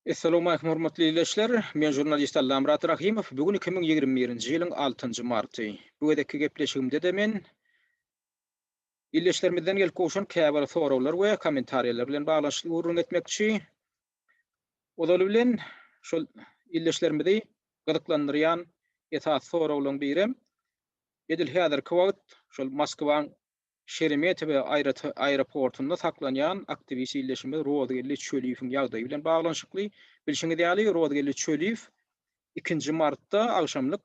Essalamualeýkum hormatly ildeşler! Men žurnalist Allamyrat Rahymow. Bu gün iki müň ýigrimi birinji ýylyň altynjy marty. Bu gezekki gepleşigimde-de men ildeşlerimizden gelip gowşan käbir soraglar we kommentariýalar bilen baglanyşykly gürrüň etmekçi. Ozaly bilen, şol ildeşlerimizi gyzyklandyrýan esasy soraglaryň birem, edil häzirki wagt şol Moskwaň Şeremetebe aeroportunda saklanýan aktiwist ildeşimiz Rozgeldi Çöliýewiň ýagdaýy bilen baglanyşykly. Bilşiňiz ýaly, Rozgeldi Çöliýew ikinji martda agşamlyk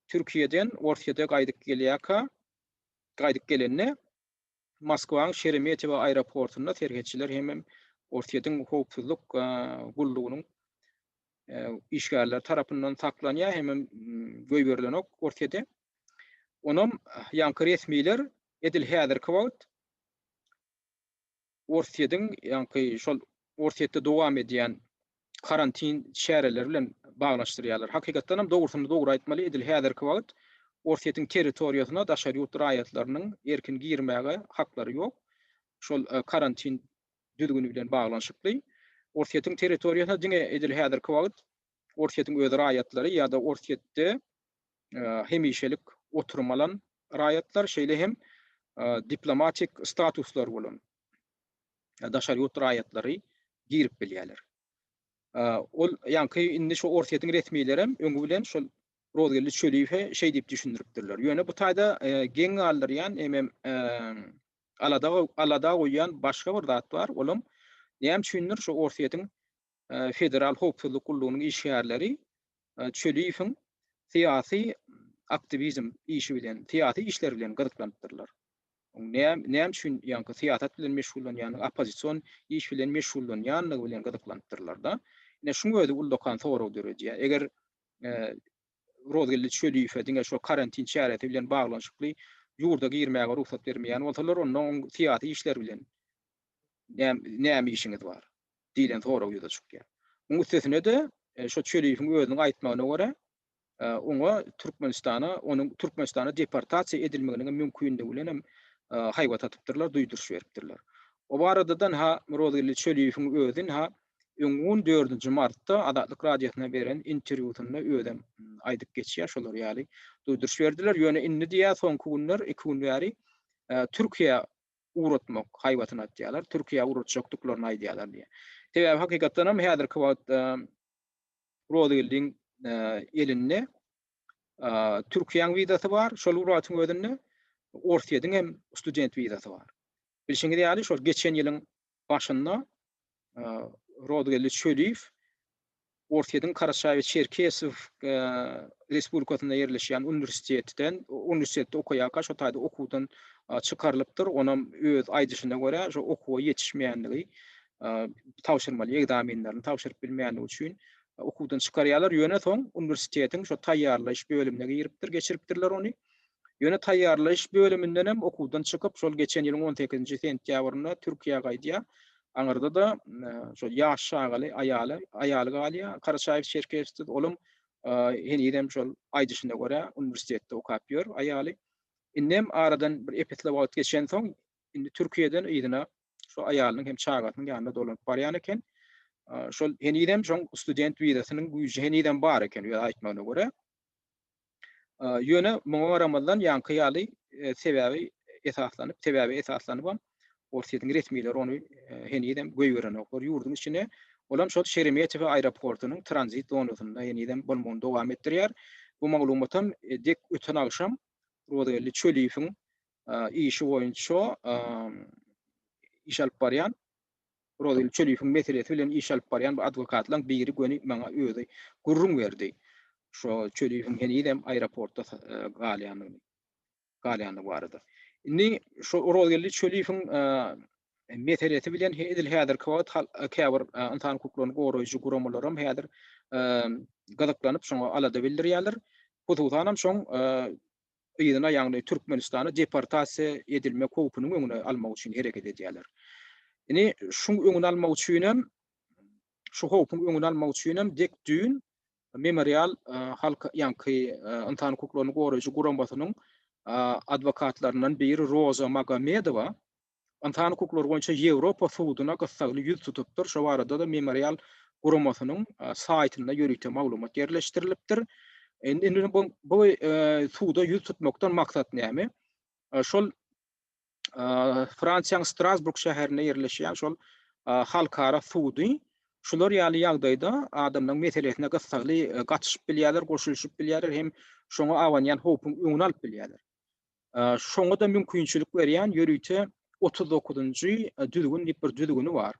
Türkiýeden Orsýete gaýdyp gelýärka, gaýdyp gelende, Moskwanyň Şeremetebe aeroportunda serhetçiler hemem Orsýetiň howpsuzlyk gullugynyň işgärleri tarapyndan saklanýar hemem goýberilenok Orsýete. Onam ýaňky resmiler edil häzirki wagt Orsýetiň ýaňky şol Orsýetde dowam edýän karantin çäreleri bilen baglanyşdyrýarlar. Hakykatdanam dogrusyny dogry aýtmaly edil häzirki wagt Orsýetiň territoriýasyna daşary ýurt raýatlarynyň erkin girmäge haklary ýok. Şol karantin düzgüni bilen baglanyşykly. Orsýetiň territoriýasyna diňe edil häzirki wagt Orsýetiň öz raýatlary ýa-da Orsýetde hemişelik oturum alan raýatlar, şeýle hem diplomatik statuslary bolan daşary ýurt raýatlary girip bilýärler. Ol ýaňky indi şu Orsýetiň resmileri hem öňi bilen şol Rozgeldi Çöliýewe şeý diýip düşündiripdirler. Ýöne bu taýda geň galdyrýan hemem alada goýýan başga bir zat bar, olam näme üçindir şu Orsýetiň Federal howpsuzlyk gullugynyň işgärleri Çöliýewiň syýasy aktiwizm işi bilen, syýasy işler bilen gyzyklanypdyrlar. Näme üçin ýaňky syýasat bilen meşgullanýandygy, oppozision iş bilen meşgullanýandygy bilen gyzyklanypdyrlar-da. Ine şuň özi ullakan sorag döredýär. Eger Rozgeldi Çöliýewe diňe şu karantin çäresi bilen baglanyşykly ýurda girmäge rugsat bermeýän bolsalar, onda onuň syýasy işler bilen näme işiňiz bar? diýlen sorag ýüze çykýar. Muň üstesine-de, şo Çöliýewiň özüniň aýtmagyna görä, oňa Türkmenistana, onuň Türkmenistana deportasiýa edilmeginiň mümkindigi bilenem haýbat atypdyrlar, duýduryş beripdirler. O barada-da-ha Rozgeldi Çöliýewiň özi-ha öňki gün, dördünji martda Azatlyk Radiosyna beren interwýusynda özem aýdyp geçýär, şolar ýaly duýduryş berdiler. Ýöne indi diýýär, soňky günler, iki gün bäri Türkiýe ugratmak haýbatyny atýarlar, Türkiýä ugratjakdyklaryny aýdýarlar diýýär. Sebäbi hakykatdan hem häzirki wagtda Rozygeldiň elinde Türkiýäň wizasy bar, şol wagtyň özünde Orsýetiň hem student wizasy bar. Bilşiňiz ýaly, şol geçen ýylyň başynda Rodgeldi Çöliýew Orsýetiň Karaçaýew-Çerkesow respublikasynda ýerleşýän uniwersitetden, uniwersitetde okaýarka şo taýda okuwdan çykarylypdyr. Onam öz aýdyşyna görä, şo okuwa ýetişmeýänligi, tabşyrmaly ekzamenlerini tabşyryp bilmeýänligi üçin okuwdan çykarýarlar. Ýöne soň uniwersitetiň şo taýýarlaýyş bölümine giripdir, geçiripdirler ony. Ýöne taýýarlaýyş bölümindenem okuwdan çykyp, şol geçen ýylyň on sekizinji sentýabrynda Türkiýä gaýdýar. Aňyrda-da şol ýaş çagaly aýaly, aýaly galýar Karaçaýew Çerkessiz. Olam henizem şol aýdyşyna görä, uniwersitetde okap ýör aýaly. Indem aradan bir ep-esli wagt geçensoň, indi Türkiýeden yzyna şol aýalynyň hem çagasynyň ýanyna dolanyp barýan eken. Şol henizem şoň student wizasynyň güýji henizem bar eken öz aýtmagyna görä. Ýöne muňa garamazdan ýaňky ýaly sebäbi esaslanyp, sebäbe esaslanybam Orsýetiň resmileri ony henizem goýberenoklar ýurduň içine. Olam şol Şeremetewa aeroportunyň tranzit zonasynda henizem bolmagyny dowam etdirýär. Bu maglumatam dek öten agşam Rozageldi Çöliýewiň işi boýunça iş alyp barýan Rozil Çöliýewiň meselesi bilen iş alyp barýan bir adwokatlaň biri göni maňa özi gürrüň berdi. Şo Çöliýewiň henizem aeroportda galýandygyny, galýandygy barada. Indi şo Rozilli Çöliýewiň meselesi bilen edil häzirki wagt käbir ynsan hukuklaryny goraýjy guramalaram häzir gyzyklanyp şoňa alada bildirýärler. Hususanam şoň yzyna, ýagny Türkmenistana deportasiýa edilmek howpunyň öňüni almak üçin hereket edýärler. Indi şuň öňüni almak üçin hem, şu howpuň öňüni almak üçin hem dek düýn Memorial halk, ýaňky ynsan hukuklaryny goraýjy guramasynyň adwokatlaryndan biri Roza Magomedowa Ynsan hukuklary boýunça Ýewropa suduna gyssagly ýüz tutupdyr, şo barada-da Memorial guramasynyň saýtynda ýörite maglumat ýerleşdirilipdir. Indi bu suda ýüz tutmakdan maksat näme? Şol Fransiýanyň Strasburg şäherinde ýerleşýän şol halkara sudy şular ýaly ýagdaýda adamlaryň meselesine gyssagly gatyşyp bilýärler, goşulyşyp bilýärler hem şoňa abanýan howpuň öňüni alyp bilýärler. Şoňa-da mümkinçilik berýän ýörite otuz dokuzynjy düzgün diýip bir düzgüni bar.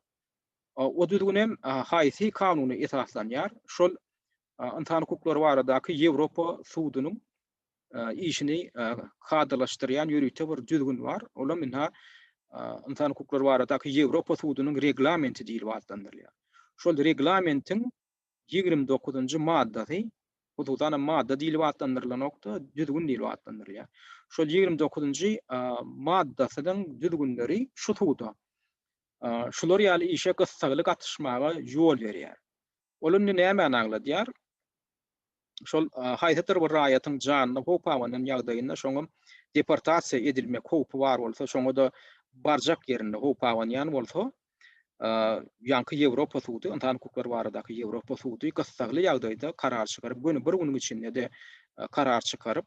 O düzgün hem haýsy kanuna esaslanýar? Şol Ynsan hukuklary baradaky Ýewropa sudunyň işini kadalaşdyrýan ýörite bir düzgün bar. Ol hem ynha Ynsan hukuklary baradaky Ýewropa sudunyň reglamenti diýlip atlandyrylýar. Şol reglamentiň Ýigrimi dokuzynjy maddasy, hususan-a madda diýlip atlandyrylanokda, düzgün diýlip atlandyrylýar. Şol ýigrimi dokuzynjy maddasynyň düzgünleri şu suda şular ýaly işe gyssagly gatyşmaga ýol berýär. Ol indi nämäni agladýar? şol haýsydyr bir raýatyň janyna howp abanan ýagdaýynda, şoňam deportasiýa edilmek howpy bar bolsa, şoňa-da barjak ýerinde howp abanýan bolsa, ýaňky Ýewropa sudy, ynsan hukuklary baradaky Ýewropa sudy gyssagly ýagdaýda karar çykaryp, göni bir günüň içinde-de karar çykaryp,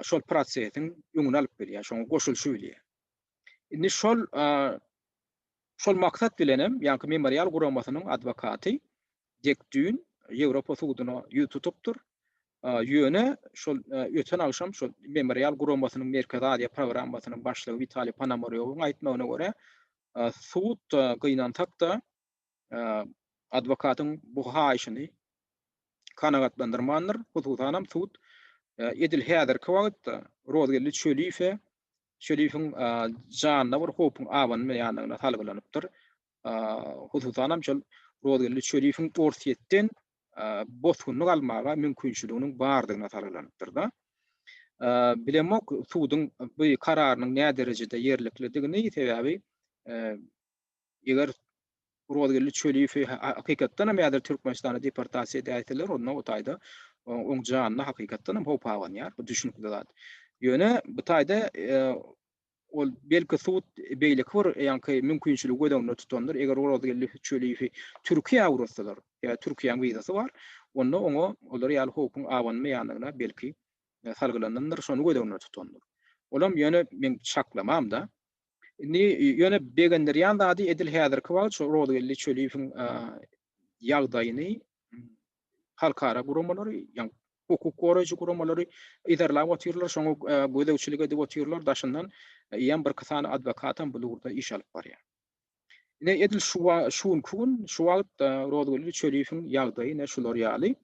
şol prosesiň öňüni alyp bilýär, şoňa goşulyşy bilýär. Indi şol, şol maksat bilenem, ýaňky Memorial guramasynyň adwokaty Dek düýn Ýewropa suduna ýüz tutupdyr. Ýöne şol öten agşam şol Memorial guramasynyň Merkezi Aziýa programmasynyň başlygy Witaliý Ponomorýowyň aýtmagyna görä, sud gynansak-da, adwokatyň bu haýyşyny kanagatlandyrmandyr. Hususanam sud edil häzirki wagtda Rozgeldi Çöliýewe Çöliýewiň janyna bir howpuň abanmaýandygyna salgylanypdyr. hususan hem şol Rozgeldi Çöliýewiň Orsýetden bosgunlyk almaga mümkinçiliginiň bardygyna salgylanypdyr-da. Bilemok suduň bu kararynyň näderejede ýerliklidigini, sebäbi eger Rozgeldi Çöliýewi hakykatdan hem häzir Türkmenistana deportasiýa edäýseler, onda o taýda oň janyna hakykatdan hem howp abanýar, bu düşünikli zat. Ýöne bu taýda Ol, belki, sud beýleki bir ýaňky mümkinçiligi göz öňünde tutandyr, eger ol Ozgeldi Çöliýewi Türkiýä ugratsalar, ýa Türkiýäň wizasy bar, onda oňa olar ýaly howpuň abanmaýandygyna, belki, salgylanandyr, şony göz öňünde tutandyr. Olam, ýöne, meň çaklamam-da. Indi, ýöne, begendirýän zady, edil häzirki wagt şu Ozgeldi Çöliýewiň ýagdaýyny halkara guramalary, ýa hukuk goraýjy guramalary yzarlap otyrlar, şoňa e, gözegçilik edip otyrlar, daşyndan eýýäm bir iki sany adwokatam bu ugurda iş alyp barýar. Ine edil şu şu günki gün şu wagt e, Rozgül Çöliýewiň ýagdaýy ine şular ýaly.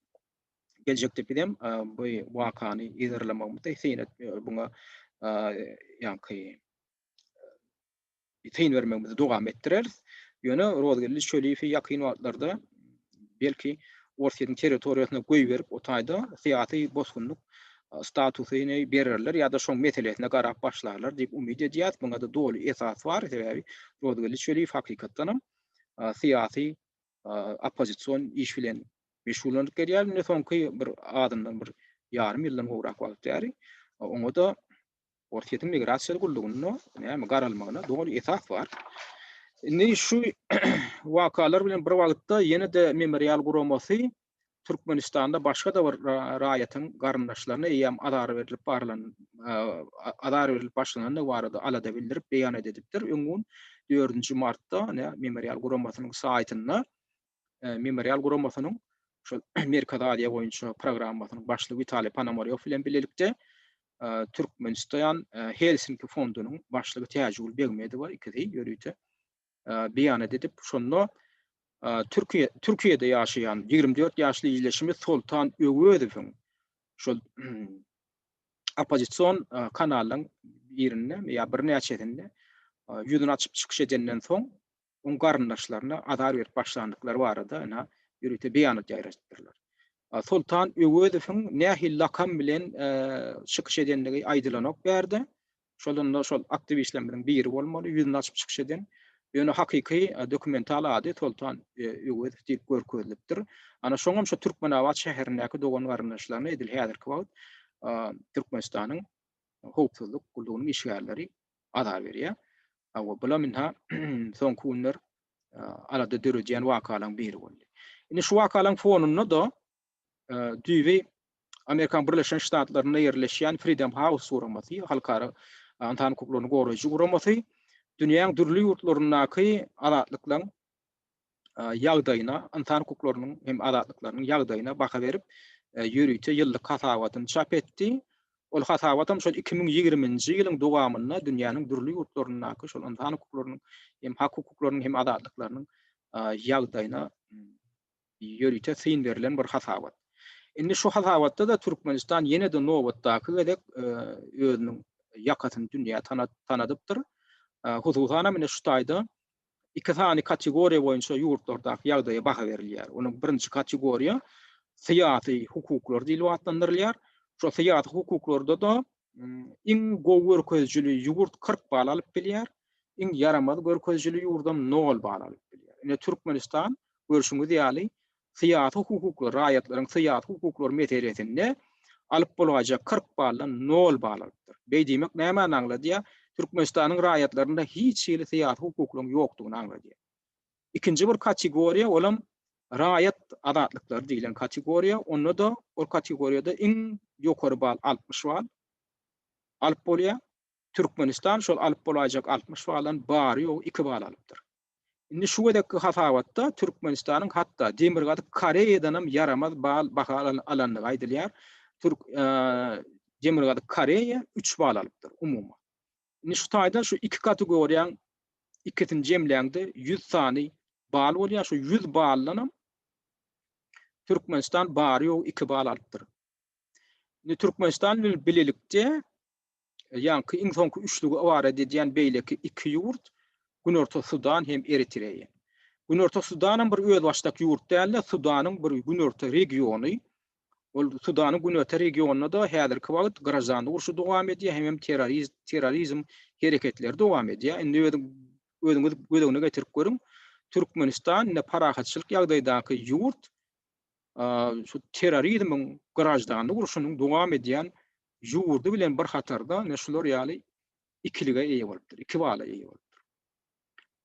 Geljekde biz hem e, bu wakany yzarlamagymyzda seýret e, buňa ýaňky Syn bermegimizi dowam etdireris. Ýöne Rozgeldi Çöliýewi ýakyn wagtlarda belki Orsýetiň territoriýasyna goýberip o taýda syýasy bosgunlyk statusyny bererler ýa-da şoň meselesine garap başlarlar diýip umyt edýäs. Muňa-da doly esas bar. Sebäbi Rozgeldi Çöliýew hakykatdanam syýasy oppozision iş bilen meşgullanyp gelýär. Indi soňky bir azyndan bir ýarym ýyldan gowrak wagt bäri oňa-da Orsýetiň migrasiýa gullugynda näme garalmagyna doly esas bar. Indi şu wakalar bilen bir wagtda ýene-de memorial guramasy Türkmenistanda başga-da bir raýatyň garyndaşlaryna eýýäm azar berilip barlan azar berilip başlanandygy barada alada bildirip beýanat edipdir. Öň gün 4-nji martda memorial guramasynyň saýtynda Memorial guramasynyň şol Merkezi Aziýa boýunça programmasynyň başlygy Witaliý Ponomorýow bilen bilelikde Türkmenistan Helsinki fondunyň başlygy Täjigül Begmedowa ikisi ýörite beýanat edip, şonda Türkiýe Türkiýede ýaşaýan 24 ýaşly ildeşimiz Soltan Öwezowyň şol oppozision kanalyň birinde ýa birnäçesinde ýüzüni açyp çykyş edenden soň oň garyndaşlaryna azar berip başlandyklary barada ene ýörite beýanat ýaýradypdyrlar. Soltan Öwezowyň nähili lakam bilen çykyş edendigi aýdylanok bärde. Şol onda şol aktiwistlerimiziň biri bolmaly, ýüzüni açyp çykyş eden. Ýöne hakyky dokumental ady Soltan Öwezow diýip görkezilipdir. Ana şoňam şu Türkmenabat şäherindäki dogan-garyndaşlaryna edil häzirki wagt Türkmenistanyň howpsuzlyk gullugynyň işgärleri azar berýär. Hawa, bulam indi soňky günler alada döredýän wakalaryň biri boldy. Indi şu wakalaryň fonunda-da düýbi Amerikanyň Birleşen Ştatlarynda ýerleşýän Freedom House guramasy, halkara ynsan hukuklaryny goraýjy guramasy dünýäň dürli ýurtlaryndaky azatlyklaryň ýagdaýyna, ynsan hukuklarynyň hem azatlyklarynyň ýagdaýyna baha berip, ýörite ýyllyk hasabatyny çap etdi. Ol hasabatam şol iki müň ýigriminji ýylyň dowamynda dünýäniň dürli ýurtlaryndaky şol ynsan hukuklarynyň hem hak hukuklarynyň hem azatlyklarynyň ýagdaýyna ýörite syn berlen bir hasabat. Indi şu hasabatda-da Türkmenistan ýene-de nobatdaky gezek özüniň ýakasyny dünýä tanadypdyr. Hususan hem ine şu taýda Iki sany kategoriýa boýunça ýurtlardaky ýagdaýa baha berilýär. Onuň birinji kategoriýa syýasy hukuklar diýlip atlandyrylýar. Şo syýasy hukuklarda-da iň gowy görkezijili ýurt kyrk bal alyp bilýär, iň ýaramaz görkezijili ýurdam nol bal alyp bilýär. Ine, Türkmenistan, görşüňiz ýaly, syýasy hukukly raýatlaryň syýasy hukuklary meselesinde alyp bolgaýjak kyrk baldan nol bal alypdyr. Beý diýmek nämäni aňladýar? Türkmenistanyň raýatlarynda hiç hili syýasy hukuklaryň ýokdugyny aňladýar. Ikinji bir kategoriýa, olam raýat azatlyklary diýlen kategoriýa, onda-da ol kategoriýada iň ýokary bal altmyş bal alyp bolýar. Türkmenistan şol alyp bolaýjak altmyş baldan bary-ýogy iki bal alypdyr. Indi şu gezekki hasabatda Türkmenistanyň hatda Demirgazyk Koreýadanam ýaramaz bal baha alandygy aýdylýar. Türk Demirgazyk Koreýa üç bal alypdyr umuman. Indi şu taýda şu iki kategoriýaň ikisini jemläňde ýüz sany bal bolýar. Şu ýüz baldanam Türkmenistan bary ýogy iki bal alypdyr. Indi Türkmenistan bilen bilelikde ýaňky iň soňky üçlügi ybarat edýän beýleki iki ýurt Günorta Sudan hem Eritreýa. Günorta Sudanam bir özbaşdak ýurt däl-de, Sudanyň bir günorta regiony. Ol Sudanyň günorta regionynda-da häzirki wagt graždanlyk urşy dowam edýär, hemem terrorizm hereketleri dowam edýär. Indi özüňiz göz öňüne getirip görüň, Türkmenistan indi parahatçylyk ýagdaýdaky ýurt, şu terrorizmiň, graždanlyk urşunyň dowam edýän ýurdy bilen bir hatarda ine şular ýaly ikilige eýe bolupdyr, iki bala eýe bolupdyr.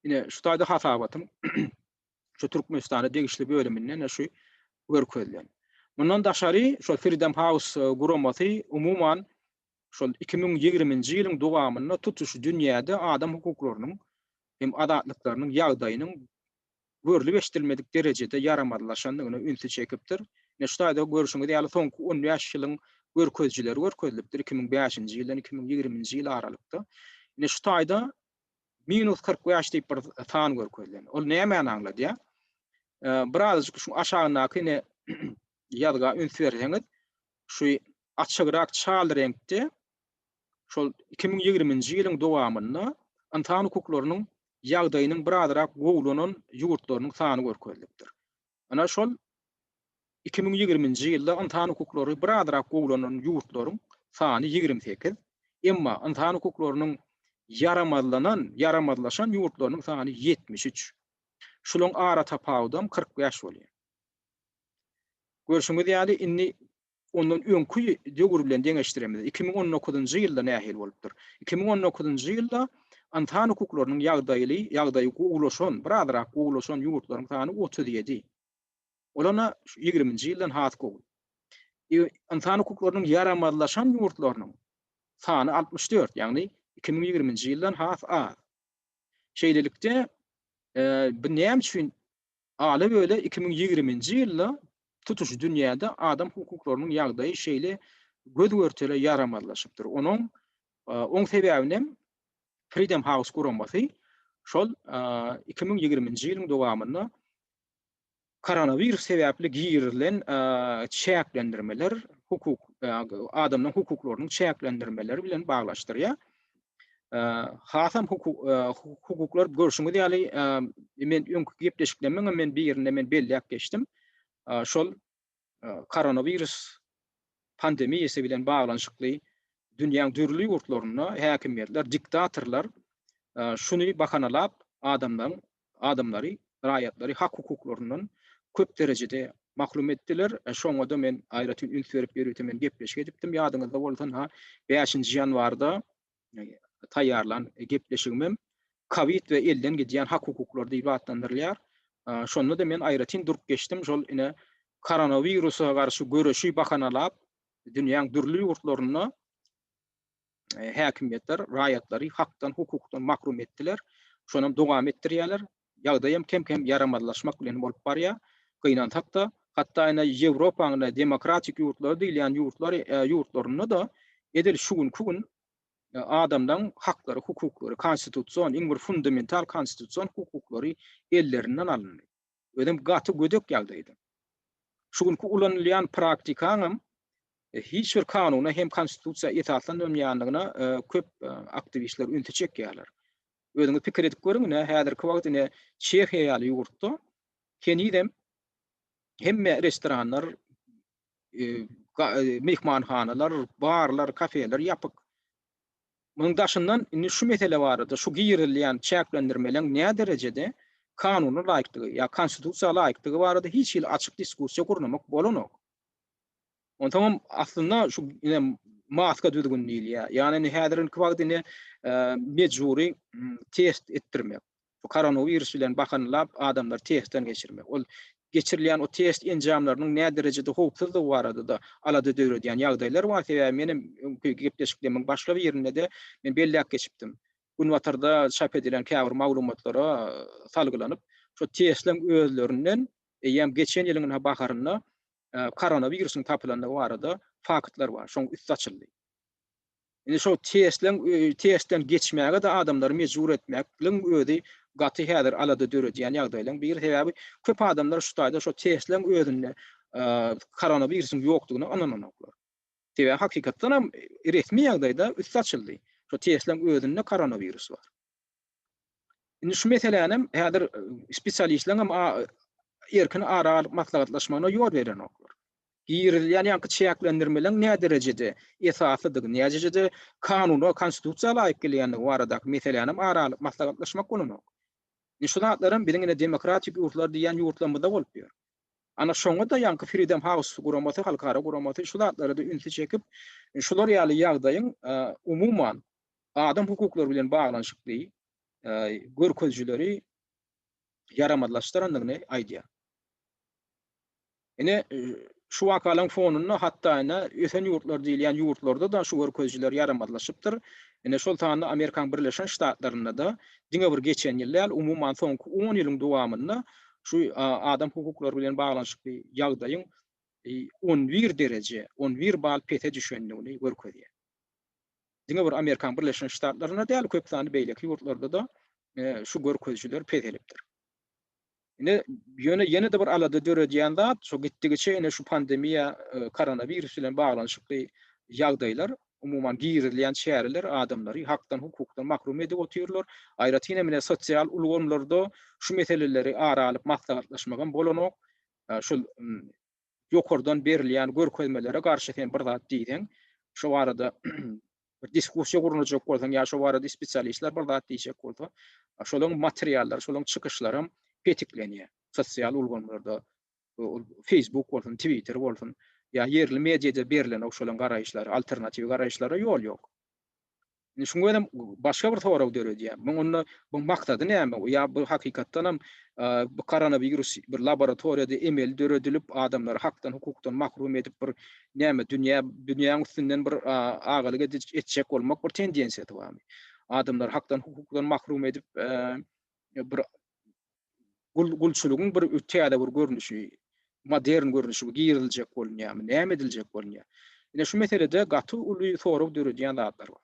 Ine şu taýda hasabatyň şu Türkmenistana degişli bölüminde ine şu görkezilen. Mundan daşary şol Freedom House guramasy umuman şol 2020-nji ýylyň dowamynda tutuş dünýäde adam hukuklarynyň hem azatlyklarynyň ýagdaýynyň görlüp-eşidilmedik derejede ýaramazlaşandygyna ünsi çekipdir. Ine, şu taýda görşüňiz ýaly, soňky on bäş ýylyň görkezijileri görkezilipdir, iki müň bäşinji ýyldan iki müň ýigriminji ýyl aralykda. Ine, şu taýda minus kyrk bäş diýip bir san görkezilen. Ol nämäni aňladýar? Birazajyk şu aşagyndaky ine ýazga üns berseňiz, şu açygrak çal reňkde şol iki müň ýigriminji ýylyň dowamynda ynsan hukuklarynyň ýagdaýynyň birazrak gowulanan ýurtlarynyň sany görkezilipdir. Ynha şol iki müň ýigrimi nji ýylda ynsan hukuklary birazrak gowulanan ýurtlaryň sany ýigrimi sekiz, emma ynsan hukuklarynyň ýaramazlanan, ýaramazlaşan ýurtlarynyň sany ýetmiş üç. Şularyň ara tapawudam kyrk bäş bolýar. Görşüňiz ýaly, indi ondan öňki döwür bilen deňeşdiremizde, iki müň on dokuzynjy ýylda nähili bolupdyr? Iki müň on dokuzynjy ýylda ynsan hukuklarynyň ýagdaýly, ýagdaýy gowulaşan, birazrak gowulaşan ýurtlaryň sany otuz ýedi. Ol ana şu ýigriminji ýyldan has gowy. Ynsan hukuklarynyň ýaramazlaşan ýurtlarynyň sany altmyş dört, ýagny iki müň ýigriminji ýyldan has az. Şeýlelikde, bu näme üçin Ala-böle iki müň ýigriminji ýylda tutuş dünýäde adam hukuklarynyň ýagdaýy şeýle göz-görtele ýaramazlaşypdyr. Onuň oň sebäbinem Freedom House guramasy şol iki müň ýigriminji ýylyň dowamynda koronawirus sebäpli girizilen çäklendirmeler hukuk adamlaryň hukuklarynyň çäklendirmeleri bilen baglaşdyrýar. hasam hukuklar görşüňiz ýaly men öňki gepleşiklerimiň men birinde men belläp geçdim. Şol koronawirus pandemiýasy bilen baglanyşykly dünýäň dürli ýurtlarynda häkimiýetler, diktatorlar şuny bahanalap adamlaryň adamlary, raýatlary hak-hukuklaryndan köp derejede mahrum etdiler. Şoňa-da men aýratyn üns berip, ýörite men gepleşik edipdim. Ýadyňyzda bolsa, bäşinji ýanwarda taýýarlan gepleşigimem Kowid we elden gidýän hak-hukuklar diýlip atlandyrylýar. Şonda-da men aýratyn durup geçdim, şol ine koronawirusa garşy göreşi bahanalap, dünýäň dürli ýurtlarynda e, häkimiýetler raýatlary hakdan, hukukdan mahrum etdiler. Şony hem dowam etdirýärler. Ýagdaý hem kem-kem ýaramazlaşmak bilen bolup barýar. Gynansak-da, hatda ýene Ýewropanyň demokratik ýurtlary diýilýän ýurtlar e, ýurtlarynda da edil şu günki gün e, adamlaryň haklary, hukuklary, konstitusion, iň bir fundamental konstitusion hukuklary ellerinden alyndy. özem gaty gödek ýagdaýda. Şu günki ulanylýan praktikaňam hiç bir kanuna hem konstitusiýa esaslanylmaýandygyna köp aktiwistler ünsi çekýärler. Özüňiz pikir edip görüň, ine, häzirki wagt ine Çehiýa ýaly ýurtda henizem hemme restoranlar myhmanhanalar, barlar, kafeler ýapyk. Munuň daşyndan indi şu mesele barada, şu girizilýän çäklendirmeleň nä derejede kanuna laýykdygy ýa konstitusiýa laýykdygy barada hiç hili açyk diskussiýa gurnamak bolanok. Onsoňam aslynda şu ine maska düzgün diýilýär. Ýagny indi häzirinki wagt indi mejbury test etdirmek. Bu koronawirus bilen bakany lap adamlary testden geçirmek. Ol geçirilýän o test enjamlarynyň näderejede howpsuzdygy barada-da alada döredýän ýagdaýlar bar. Sebäbi men hem öňki gepleşiklemiň başga birinde-de men belläp geçipdim. Günbatarda çap edilen käbir maglumatlara salgylanyp, şu testleň özlerinden eýýäm geçen ýylyň ynha baharynda koronawirusyň tapylandygy barada faktlar bar. Şoň üsti açyldy. Indi şo testleň testden geçmäge-de adamlary mejbur etmekligiň özi gaty häzir alada döredýän ýagdaýlaryň biri. Sebäbi köp adamlar şu taýda şo testleň özünde koronawirusyň ýokdugyna ynananoklar. Sebäbi hakykatdanam resmi ýagdaýda üsti açyldy. Şo testleň özünde koronawirus bar. Indi şu meselänem häzir spesialistleriň hem erkin ara alyp maslahatlaşmagyna ýol berenoklar. Girizilýän ýaňky çäklendirmeleriň näderejede esaslydygy, näderejede kanuna, konstitusiýa laýyk gelýändigi baradaky meselänem ara alyp maslahatlaşmak bolanok. Indi şu zatlar hem biziň ine demokratik ýurtlar diýýän ýurtlarymyzda bolup ýör. Ana şoňa-da ýaňky Freedom House guramasy, halkara guramasy şu zatlara-da ünsi çekip, şular ýaly ýagdaýyň umuman adam hukuklary bilen baglanyşykly görkezijileri ýaramazlaşdyrandygyny aýdýar. Ine, şu wakalaryň fonunda hatda ine ösen ýurtlar diýilýän ýurtlarda-da şu görkezijiler ýaramazlaşypdyr. Ine şol sanda Amerikanyň Birleşen Ştatlarynda-da diňe bir geçen ýyl däl, umuman soňky on ýylyň dowamynda şu adam hukuklary bilen baglanyşykly ýagdaýyň on bir dereje, on bir bal pese düşendigini görkezýär. diňe bir Amerikanyň Birleşen Ştatlarynda däl, köp sanly beýleki ýurtlarda-da şu görkezijiler peselipdir. Ine, ýöne ýene-de bir alada döredýän zat, şu gitdigiçe ine şu pandemiýa, koronawirus bilen baglanyşykly ýagdaýlar, umuman girizilýän çäreler adamlary hakdan, hukukdan mahrum edip otyrlar. Aýratyn hem ine sosial ulgamlarda şu meseleleri ara alyp maslahatlaşmagam bolanok. Şol ýokardan berilýän görkezmelere garşy sen bir zat diýseň, şo barada bir diskussiýa gurnajak bolsaň ýa şo barada spesialistler bir zat diýjek bolsa, şolaryň materiallary, şolaryň çykyşlary hem petiklenýär. Sosial ulgamlarda, ol Facebook bolsun, Twitter bolsun ýa ýerli mediada berilenok şolaryň garaýyşlary, alternatiw garaýyşlara ýol ýok. Indi şuňa görem başga bir sorag döredýär. Muň onda bu maksady näme? Ýa bu hakykatdan hem bu koronawirus bir laboratoriýada emeli döredilip, adamlary hakdan, hukukdan mahrum edip bir näme dünýä, dünýäň üstünden bir agalyk etjek bolmak bir tendensiýasy barmy? Adamlary hakdan, hukukdan mahrum edip bir gul gulçulygyň bir täze bir görnüşi, modern görnüşi giriziljek bolunýarmy, näme ediljek bolunýar? Ine şu meselede gaty uly sorag döredýän zatlar bar.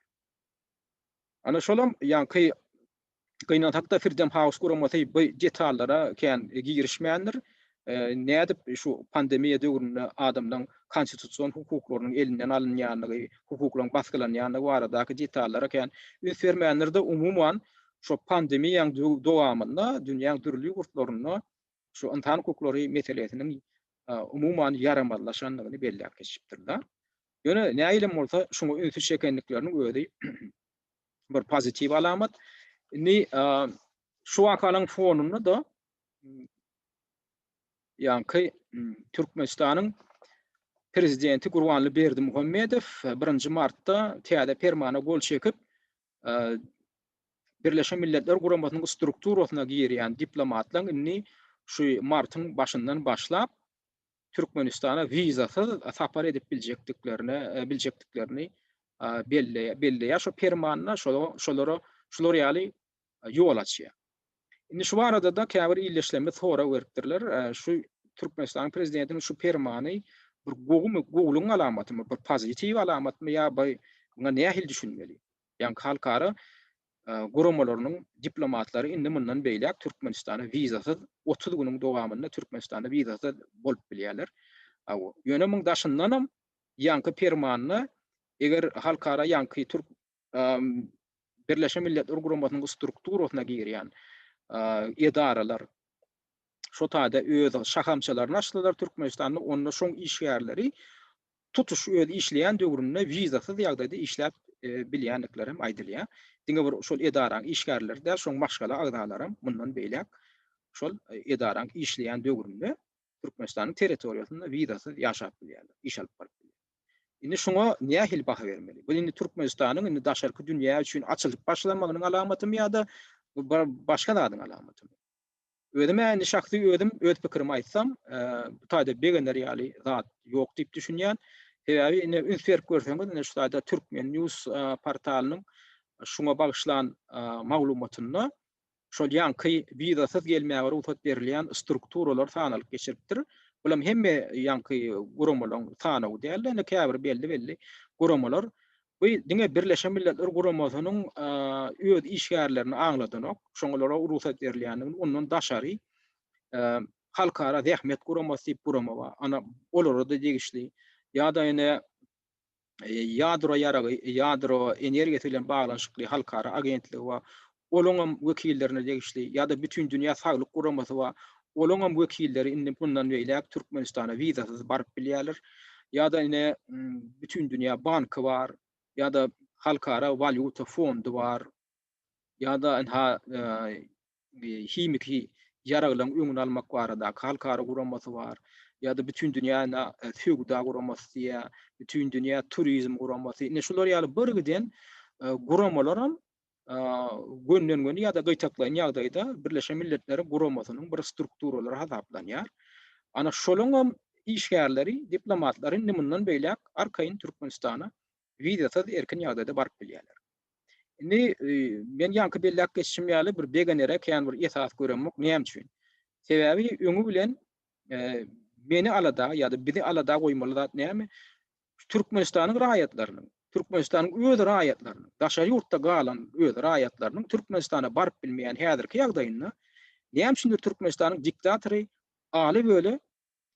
Ana şolam ýaňky gynansak-da Firdem Haus guramasy bu detallara kän girişmändir. Nädip şu pandemiýa döwründe adamlaryň konstitusion hukuklarynyň elinden alynýandygy, hukuklaryň basgylanýandygy baradaky detallara kän üns bermändir-de, umuman, şo pandemiýaň dowamynda dünýäň dürli ýurtlarynda şu ynsan hukuklary meselesiniň umuman ýaramazlaşandygyny belläp geçipdirler. Ýöne nähili hem bolsa şuňa ünsi çekendikleriniň özi bir pozitiw alamat. Indi şu wakanyň fonunda da ýaňky Türkmenistanyň prezidenti Gurbanly Berdimuhamedow birinji martda täze permana gol çekip, Birleşen Milletler Guramasynyň strukturasyna girýän diplomatlaryň indi şu martyň başyndan başlap Türkmenistana wizasyz sapar edip biljekdiklerine e, biljekdiklerini e, belleýär. Belleýär şu permanda şolara şolar ýaly ýol açýar. Indi şu barada-da käbir ildeşlerimiz sorag beripdirler, şu Türkmenistanyň Prezidentiniň şu permany bir gowumy, gowulygyň alamatymy, bir pozitiw alamatmy ýa by muňa nähili düşünmeli? Ýaňky halkara guramalarynyň diplomatlary indi mundan beýläk Türkmenistana wizasyz otuz günüň dowamynda Türkmenistanda wizasyz bolup bilýärler. Ýöne muň daşyndanam ýaňky permanda eger halkara ýaňky türk Birleşen Milletler Guramasynyň strukturasyna girýän edaralar şu taýda öz şahamçalaryny açdylar Türkmenistanda, onda şoň işgärleri tutuş öz işleýän döwründe wizasyz ýagdaýda işläp bilýändikleri hem aýdylýar. Diňe bir şol edaraň işgärleri däl, şoň maşgala agzalary hem mundan beýläk şol edaraň işleýän döwründe Türkmenistanyň territoriýasynda wizasyz ýaşap bilýärler, iş alyp baryp bilýärler. Indi şuňa nähili baha bermeli? Bu indi Türkmenistanyň indi daşarky dünýä üçin açylyp başlamagynyň alamatymy ýa-da bu bir başga zadyň alamatymy? Özüm-ä indi şahsy özüm öz pikirimi aýtsam, bu taýda begener ýaly zat ýok diýip düşünýän. Sebäbi indi üns berip görseňiz, indi şu taýda Turkmen. News portalynyň şuňa bagyşlan maglumatynda şol ýaňky wizasyz gelmäge rugsat berilýän strukturalar sanalyp geçilipdir. Bulam hemme ýaňky guramalaryň sanawy däl-de, indi käbir belli-belli guramalar bu diňe Birleşen Milletler Guramasynyň öz işgärlerini aňladanok, şoňa olara rugsat berilýändigini, ondan daşary Halkara zähmet guramasy diýip gurama bar, ana olara-da degişli ýa-da ine ýadro ýaragy, ýadro energiýasy bilen baglanyşykly halkara agentligi bar, olaň hem wekillerine degişli, ýa-da Bütindünýä Saglyk Guramasy bar, olaň hem wekilleri indi mundan beýläk Türkmenistana wizasyz baryp bilýärler, ýa-da ine Bütindünýä banky bar, ýa-da Halkara walýuta fondy bar, ýa-da ynha himiki ýaraglaryň öňüni almak baradaky halkara guramasy bar, ýa-da Bütindünýä söwda guramasy diýýär, Bütindünýä turizm guramasy. Ine, şular ýaly birgiden guramalaram gönden-göni ýa-da gytaklaýyn ýagdaýda Birleşen Milletleriň Guramasynyň bir strukturalary hasaplanýar. Ana, şolaryňam işgärleri, diplomatlary indi mundan beýläk arkaýyn Türkmenistana wizasyz erkin ýagdaýda baryp bilýärler. Indi men ýaňky belläp geçişim ýaly bir begenere kän bir esas göremok. Näme üçin? Sebäbi öňi bilen meni alada ýa-da bizi alada goýmaly zat näme? Türkmenistanyň raýatlarynyň, Türkmenistanyň öz raýatlarynyň, daşary ýurtda galan öz raýatlarynyň Türkmenistana baryp bilmeýän häzirki ýagdaýynda näme üçindir Türkmenistanyň diktatory Aly Weli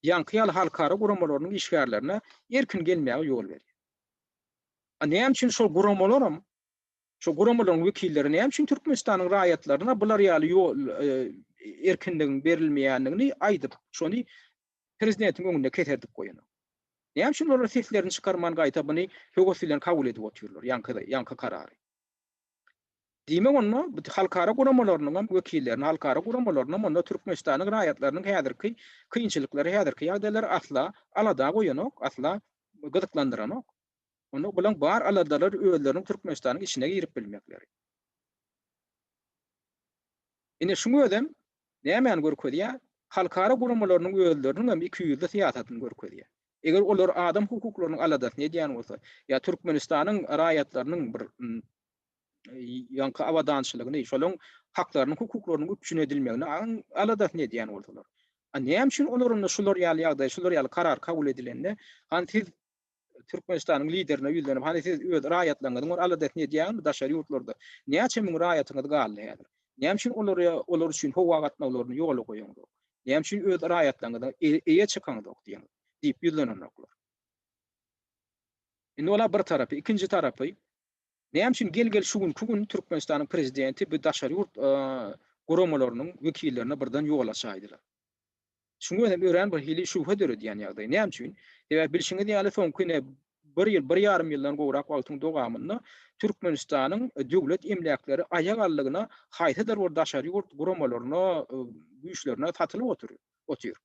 ýaňky ýaly halkara guramalarynyň işgärlerine erkin gelmäge ýol berýär. A näme üçin şol guramalaram, şol guramalaryň wekilleri näme üçin Türkmenistanyň raýatlaryna bular ýaly ýol, erkinligiň berilmeýändigini aýdyp, şony prezidentiň öňünde keserdip goýanok? Näme üçin olar seslerini çykarman gaýta buny höwes bilen kabul edip otyrlar, ýaňky, ýaňky karary? Diýmek onda halkara guramalarynyňam wekillerini, halkara guramalarynyňam onda Türkmenistanyň raýatlarynyň häzirki kynçylyklary, häzirki ýagdaýlary asla alada goýanok, asla gyzyklandyranok. Onda bulaň bar aladalar özleriniň Türkmenistanyň içine girip bilmekleri. Ine şuň özem nämäni görkezýär? Halkara guramalarynyň özleriniň hem ikiýüzli syýasatyny görkezýär. Eger olar adam hukuklarynyň aladasyny edýän bolsa, ýa Türkmenistanyň raýatlarynyň bir ýaňky abadançylygyny, şolaryň haklarynyň, hukuklarynyň üpjün edilmegini aladasyny edýän bolsalar, a näme üçin olar onda şular ýaly ýagdaý, şular ýaly karar kabul edilende, han siz Türkmenistanyň Liderine ýüzlenip, hany siz öz raýatlaryňyzyň bir aladasyny edýäňizmi daşary ýurtlarda? Näçe müň raýatyňyz galdy häzir? Näme üçin olara olar üçin howa gatnawlaryny ýola goýaňzok? Näme üçin öz raýatlaryňyza eýe çykaňzok diýen diýip ýüzlenenoklar. Indi ola bir tarapy, ikinji tarapy, Näme üçin gel-gel şu günki gün Türkmenistanyň prezidenti bu daşary ýurt guramalarynyň wekillerine birden ýol açaýdylar? Şuň özem örän birhili şübhe döredýän ýagdaý. Näme üçin? Sebäbi bilşiňiz ýaly, soňky ine bir ýyl, bir ýarym ýyldan gowrak wagtyň dowamynda Türkmenistanyň döwlet emläkleri aýak aldygyna haýsydyr bir daşary ýurt guramalaryna, güýçlerine satylyp oturyp otyr.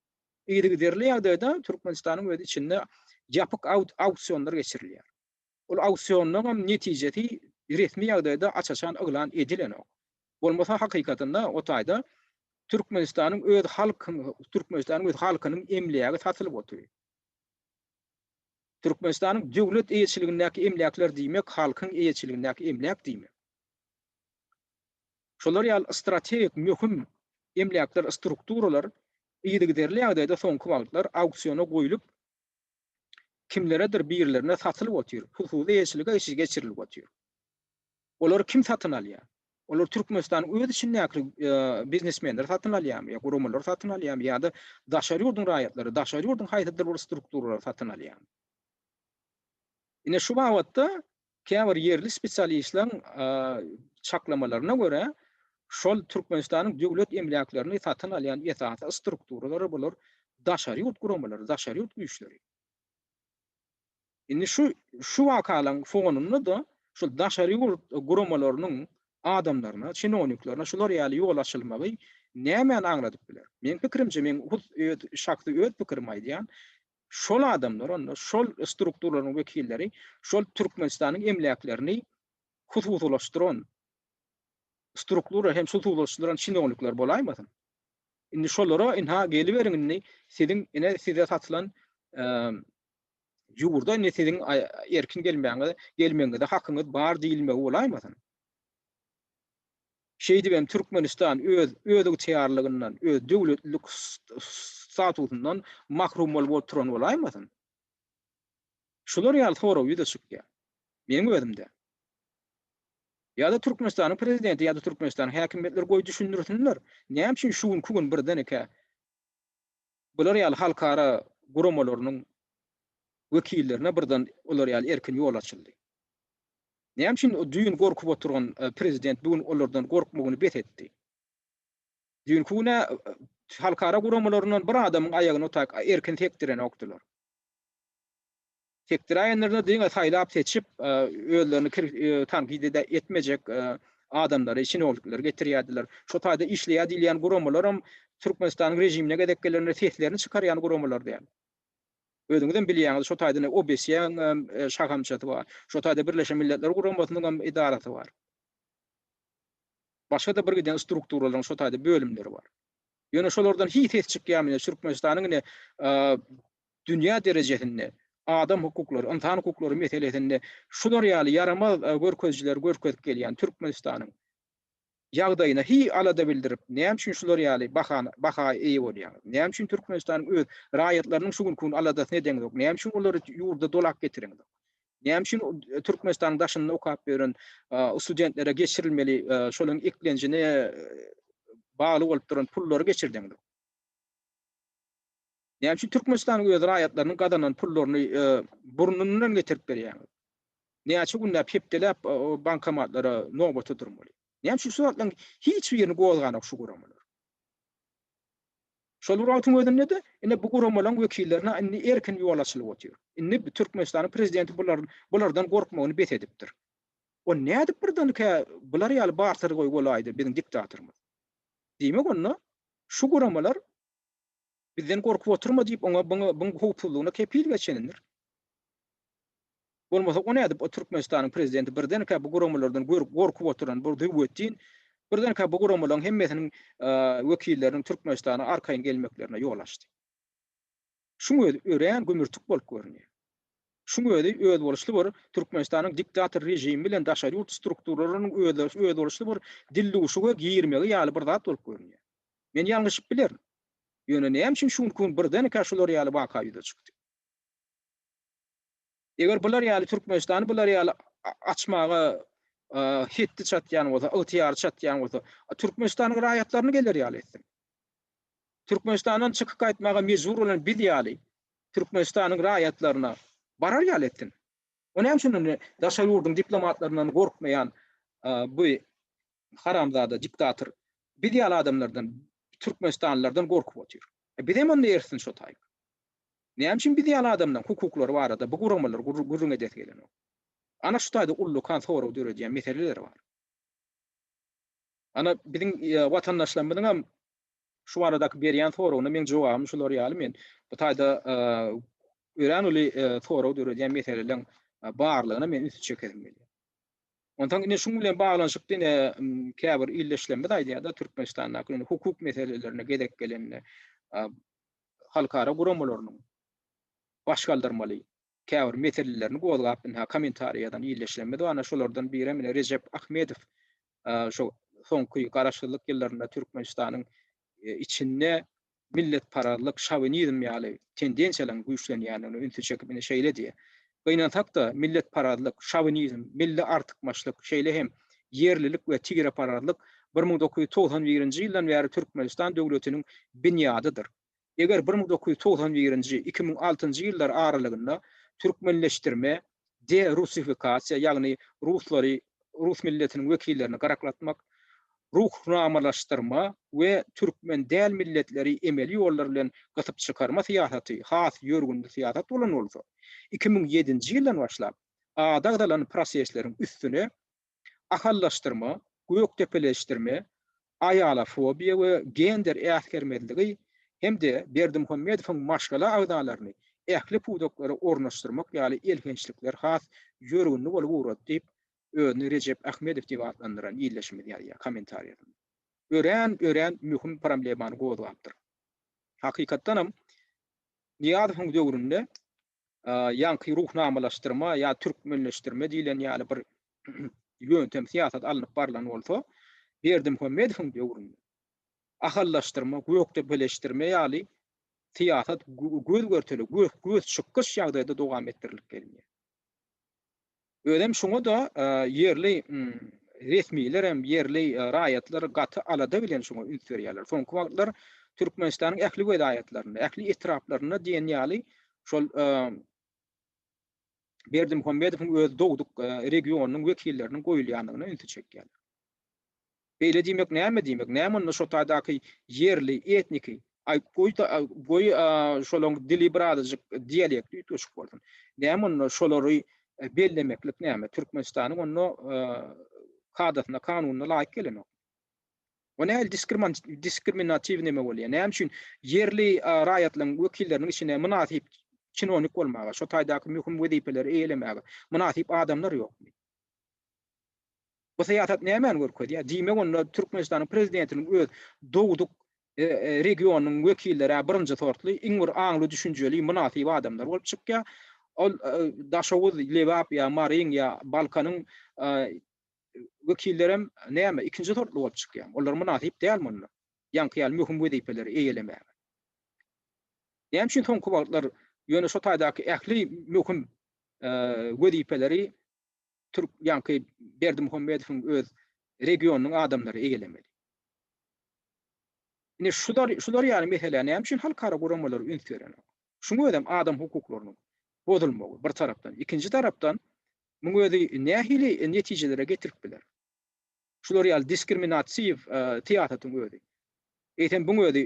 Yzygiderli ýagdaýda Türkmenistanyň öz içinde ýapyk auksionlar geçirilýär. Ol auksionlaryň netijesi resmi ýagdaýda aç-açan yglan edilenok. Bolmasa hakykatynda o taýda Türkmenistanyň öz halk Türkmenistanyň öz halkynyň emlägi satylyp otyr. Türkmenistanyň döwlet eýeçiligindäki emläkler diýmek halkyň eýeçiligindäki emläk diýmek. Şolar ýaly strategik möhüm emläkler, strukturalar yzygiderli ýagdaýda soňky wagtlar auksiona goýlup, kimleredir birlerine satylyp otyr, hususy eýeçilige geçirilip otyr. Olary kim satyn alýar? Olary Türkmenistanyň öz içindäki biznesmenler satyn alýarmy ýa guramalar satyn alýarmy ýa-da daşary ýurduň raýatlary, daşary ýurduň haýsydyr bir strukturalary satyn alýarmy? Ine şu babatda Käbir ýerli spesialistleriň çaklamalaryna görä, şol Türkmenistanyň döwlet emläklerini satyn alýan esasy strukturalary bular daşary ýurt guramalary, daşary ýurt güýçleri. Indi şu şu wakalaryň fonunda-da şol daşary ýurt guramalarynyň adamlaryna, çinowniklerine şular ýaly ýol açylmagy nämäni aňladyp biler? Meň pikirimçe, men hut öz şahsy öz pikirimi aýdýan, Şol adamlar onda şol strukturalaryň wekilleri şol Türkmenistanyň emläklerini hususylaşdyran struktura hem hususylaşdyran çinownikler bolaýmasyn? Indi şolara ynha geliberiň indi siziň ine size satylan ýurda indi siziň erkin gelmäňize gelmegiňize hakyňyz bar diýilmegi bolaýmasyn? Şeýdibem Türkmenistan öz özygtyýarlygyndan, öz döwletlilik statusyndan mahrum bolup oturan bolaýmasyn? Şular ýaly sorag ýüze çykýar. Meniň özümde. Ýa-da Türkmenistanyň prezidenti ýa-da Türkmenistanyň häkimiýetleri goý düşündirsinler, näme üçin şu günki gün birdenkä Bular ýaly halkara guramalarynyň wekillerine birden olar ýaly erkin ýol açyldy. Näme üçin düýn gorkup oturan prezident bu gün olardan gorkmagyny bes etdi? Düýnki gün-ä halkara guramalaryndan bir adamyň aýagyny otag erkin sekdirenokdylar. Sekdiräýenler-de diňe saýlap-seçip, özlerini kir, tankyt-ede etmejek adamlary, çinownikleri getirýärdiler. Şo taýda işleýär diýilýän guramalaram Türkmenistanyň režimine gezek gelende seslerini çykarýan guramalar däl. Özüňizem bilýäňiz, şo taýda ine OBSE-niň hem şahamçasy bar. Şo taýda Birleşen Milletler Guramasynyň hem edarasy bar. Başga-da birgiden strukturalaryň şo taýda bölümleri bar. Ýöne şolardan hiç ses çykýarmy? Ine Türkmenistanyň ine dünýä derejesinde adam hukuklary, ynsan hukuklary meselesinde şular ýaly ýaramaz görkezijileri görkezip gelýän Türkmenistanyň ýagdaýyna hi alada bildirip, näme üçin şular ýaly bahana, baha eýe bolýaňyz? Näme üçin Türkmenistanyň öz raýatlarynyň şu günki gün aladasyny edeňzok? Näme üçin olary ýurda dolap getireňzok? Näme üçin Türkmenistanyň daşynda okap ýören studentlere geçirilmeli şolaryň eklenjine bagly bolup duran pullary geçirdeňzok? Näme üçin Türkmenistanyň öz raýatlarynyň gazanan pullaryny burnundan getirip berýäňiz? Näçe günläp, hepdeläp bankomatlara nobata durmaly? Näme üçin şu zatlaryň hiç birini gozganok şu guramalar? Şol bir wagtyň özünde-de, ine bu guramalaryň wekillerine indi erkin ýol açylyp otyr. Indi Türkmenistanyň prezidenti bulardan gorkmagyny bes edipdir. Onda nädip birdenkä bular ýaly barter goý bolaýdy biziň diktatorymyz? Diýmek onda şu guramalar Bizden gorkup oturma diýip oňa byň howpsuzlygyna kepil geçenindir. Bolmasa o nädip o Türkmenistanyň prezidenti birdenkä bu guramalardan gorkup oturan bir Züwwetdin birdenkä bu guramalaryň hemmesiniň wekilleriniň Türkmenistana arkaýyn gelmeklerine ýol açdy. Şuň özi örän gümürtik bolup görünýär. Şuň özi özboluşly bir Türkmenistanyň diktator režimi bilen daşary ýurt strukturalarynyň özboluşly bir dilduşuga girmegi ýaly bir zat bolup görünýär. Men ýalňyşyp bilerin. Ýöne näme üçin şu günki gün birdenkä şular ýaly waka ýüze çykdy? Eger bular ýaly Türkmenistany bular ýaly açmaga hetdi çatýan bolsa, ygtyýary çatýan bolsa, Türkmenistanyň raýatlaryny geler ýaly etsin. Türkmenistandan çykyp gaýtmaga mejbur bolan biz ýaly Türkmenistanyň raýatlaryna barar ýaly etsin. O näme üçin indi daşary ýurduň diplomatlaryndan gorkmaýan bu haramzada diktator biz ýaly adamlardan türkmenistanlylardan gorkup otyr. Bizem onda ersin şo taýy. Näme üçin biz ýaly adamlaň hukuklary barada bu guramalary gürrüň edesi gelenok. Ana şu taýda ullakan sorag döredýän meseleler bar. Ana biziň watandaşlarymyzyňam Şu baradaky berýän soragyna meň jogabym şular ýaly men bu taýda örän uly sorag döredýän meseleleň barlygyna men ünsi çekesim gelýär. Onsoň ine şuň bilen baglanyşykda ine käbir ildeşlerimiz aýdýar-da Türkmenistandaky indi hukuk meselelerine gezek gelende halkara guramalarynyň baş galdyrmaly käbir meselelerini gozgap ynha kommentariý ýazan ildeşlerimiz bar ana şolardan birem ine Rejep Ahmedow şo soňky garaşsyzlyk ýyllarynda Türkmenistanyň içinde milletparazlyk şowinizm ýaly tendensiýalaryň güýçlenýändigine ünsi çekip ine şeýle diýýär Gynansakda milletparazlyk şowinizm milli artykmaçlyk şeýle hem ýerlilik we tireparazlyk bir müň dokuz ýüz togsan birinji ýyldan bäri Türkmenistan döwletiniň binýadydyr Eger bir müň dokuz ýüz togsan birinji, iki müň altynjy ýyllar aralygynda türkmenleşdirme, de-rusifikasiýa, ýagny ruslary, rus milletiniň wekillerini gyraklatmak, ruhnamalaşdyrma we türkmen däl milletleri emeli ýollar bilen gysyp çykarma syýasaty has ýörgünli syýasat bolan bolsa, iki müň ýedinji ýyldan başlap, ady agzalan prosesleriň üstüne Ahallaşdyrma, gökdepeleşdirme, aýalafobiýa we gender äsgermezligi hem-de Berdimuhamedowyň maşgala agzalaryny ähli pudaklara ornaşdyrmak ýaly elhençlikler has ýörgünli bolup ugrady diýip, özüni Rejep Ahmedow diýip atlandyran ildeşimiz ýazýar kommentariýasynda. Örän, örän möhüm problemany gozgapdyr. Hakykatdanam, Nyýazowyň döwründe ýaňky ruhnamalaşdyrma ýa türkmenleşdirme diýlen ýaly bir ýöntem, syýasat alnyp barlan bolsa, Berdimuhamedowyň döwründe ahallaşdyrma, gökdepeleşdirme ýaly syýasat göz-görtele, gös-gös çykyş ýagdaýda dowam etdirilip gelinýär. Özem şoňa-da ýerli resmilerem, ýerli raýatlar gaty alada bilen şoňa üns berýärler. Soňky wagtlar Türkmenistanyň ähli welaýatlarynda, ähli etraplarynda diýen ýaly şol Berdimuhamedowyň öz dogduk regionynyň wekilleriniň goýulýandygyna ünsi çekýärler. Beýle diýmek näme diýmek? Näme onda şo taýdaky ýerli, etniki, aý, goý, goý, şolaň dili bir azajyk dialekti üýtgeşik bolsun. Näme onda şolary bellemeklik näme? Türkmenistanyň onda kadasyna, kanunyna laýyk gelenok. Bu näl diskriminatiw näme bolýar? Näme üçin ýerli raýatlaryň wekilleriniň içine mynasyp çinonik bolmaga, şo taýdaky möhüm wezipeleri eýelemäge mynasyp adamlar ýokmy? Bu syýasat nämäni görkezýär? Diýmek onda Türkmenistanyň prezidentiniň öz dogduk regionynyň wekilleri-ä birinji sortly, iň bir aňly, düşünjeli, mynasyp adamlar bolup çykýar. Ol Daşoguz, Lebap ýa Maryň ýa Balkanyň wekillerem näme, ikinji sortly bolup çykýarmy? Olar mynasyp dälmi onda ýaňky ýaly möhüm wezipeleri eýelemäge? Näme üçin soňky wagtlar ýöne şu taýdaky ähli möhüm wezipeleri türk ýaňky Berdimuhamedowyň öz regionynyň adamlary eýelemeli. Ine şular şular ýaly meselä näme üçin halkara guramalar üns berenok? Şuň özem adam hukuklarynyň bozulmagy bir tarapdan, ikinji tarapdan muň özi nähili netijelere getirip biler? Şular ýaly diskriminatiw e, syýasatyň özi. Eýsem buň özi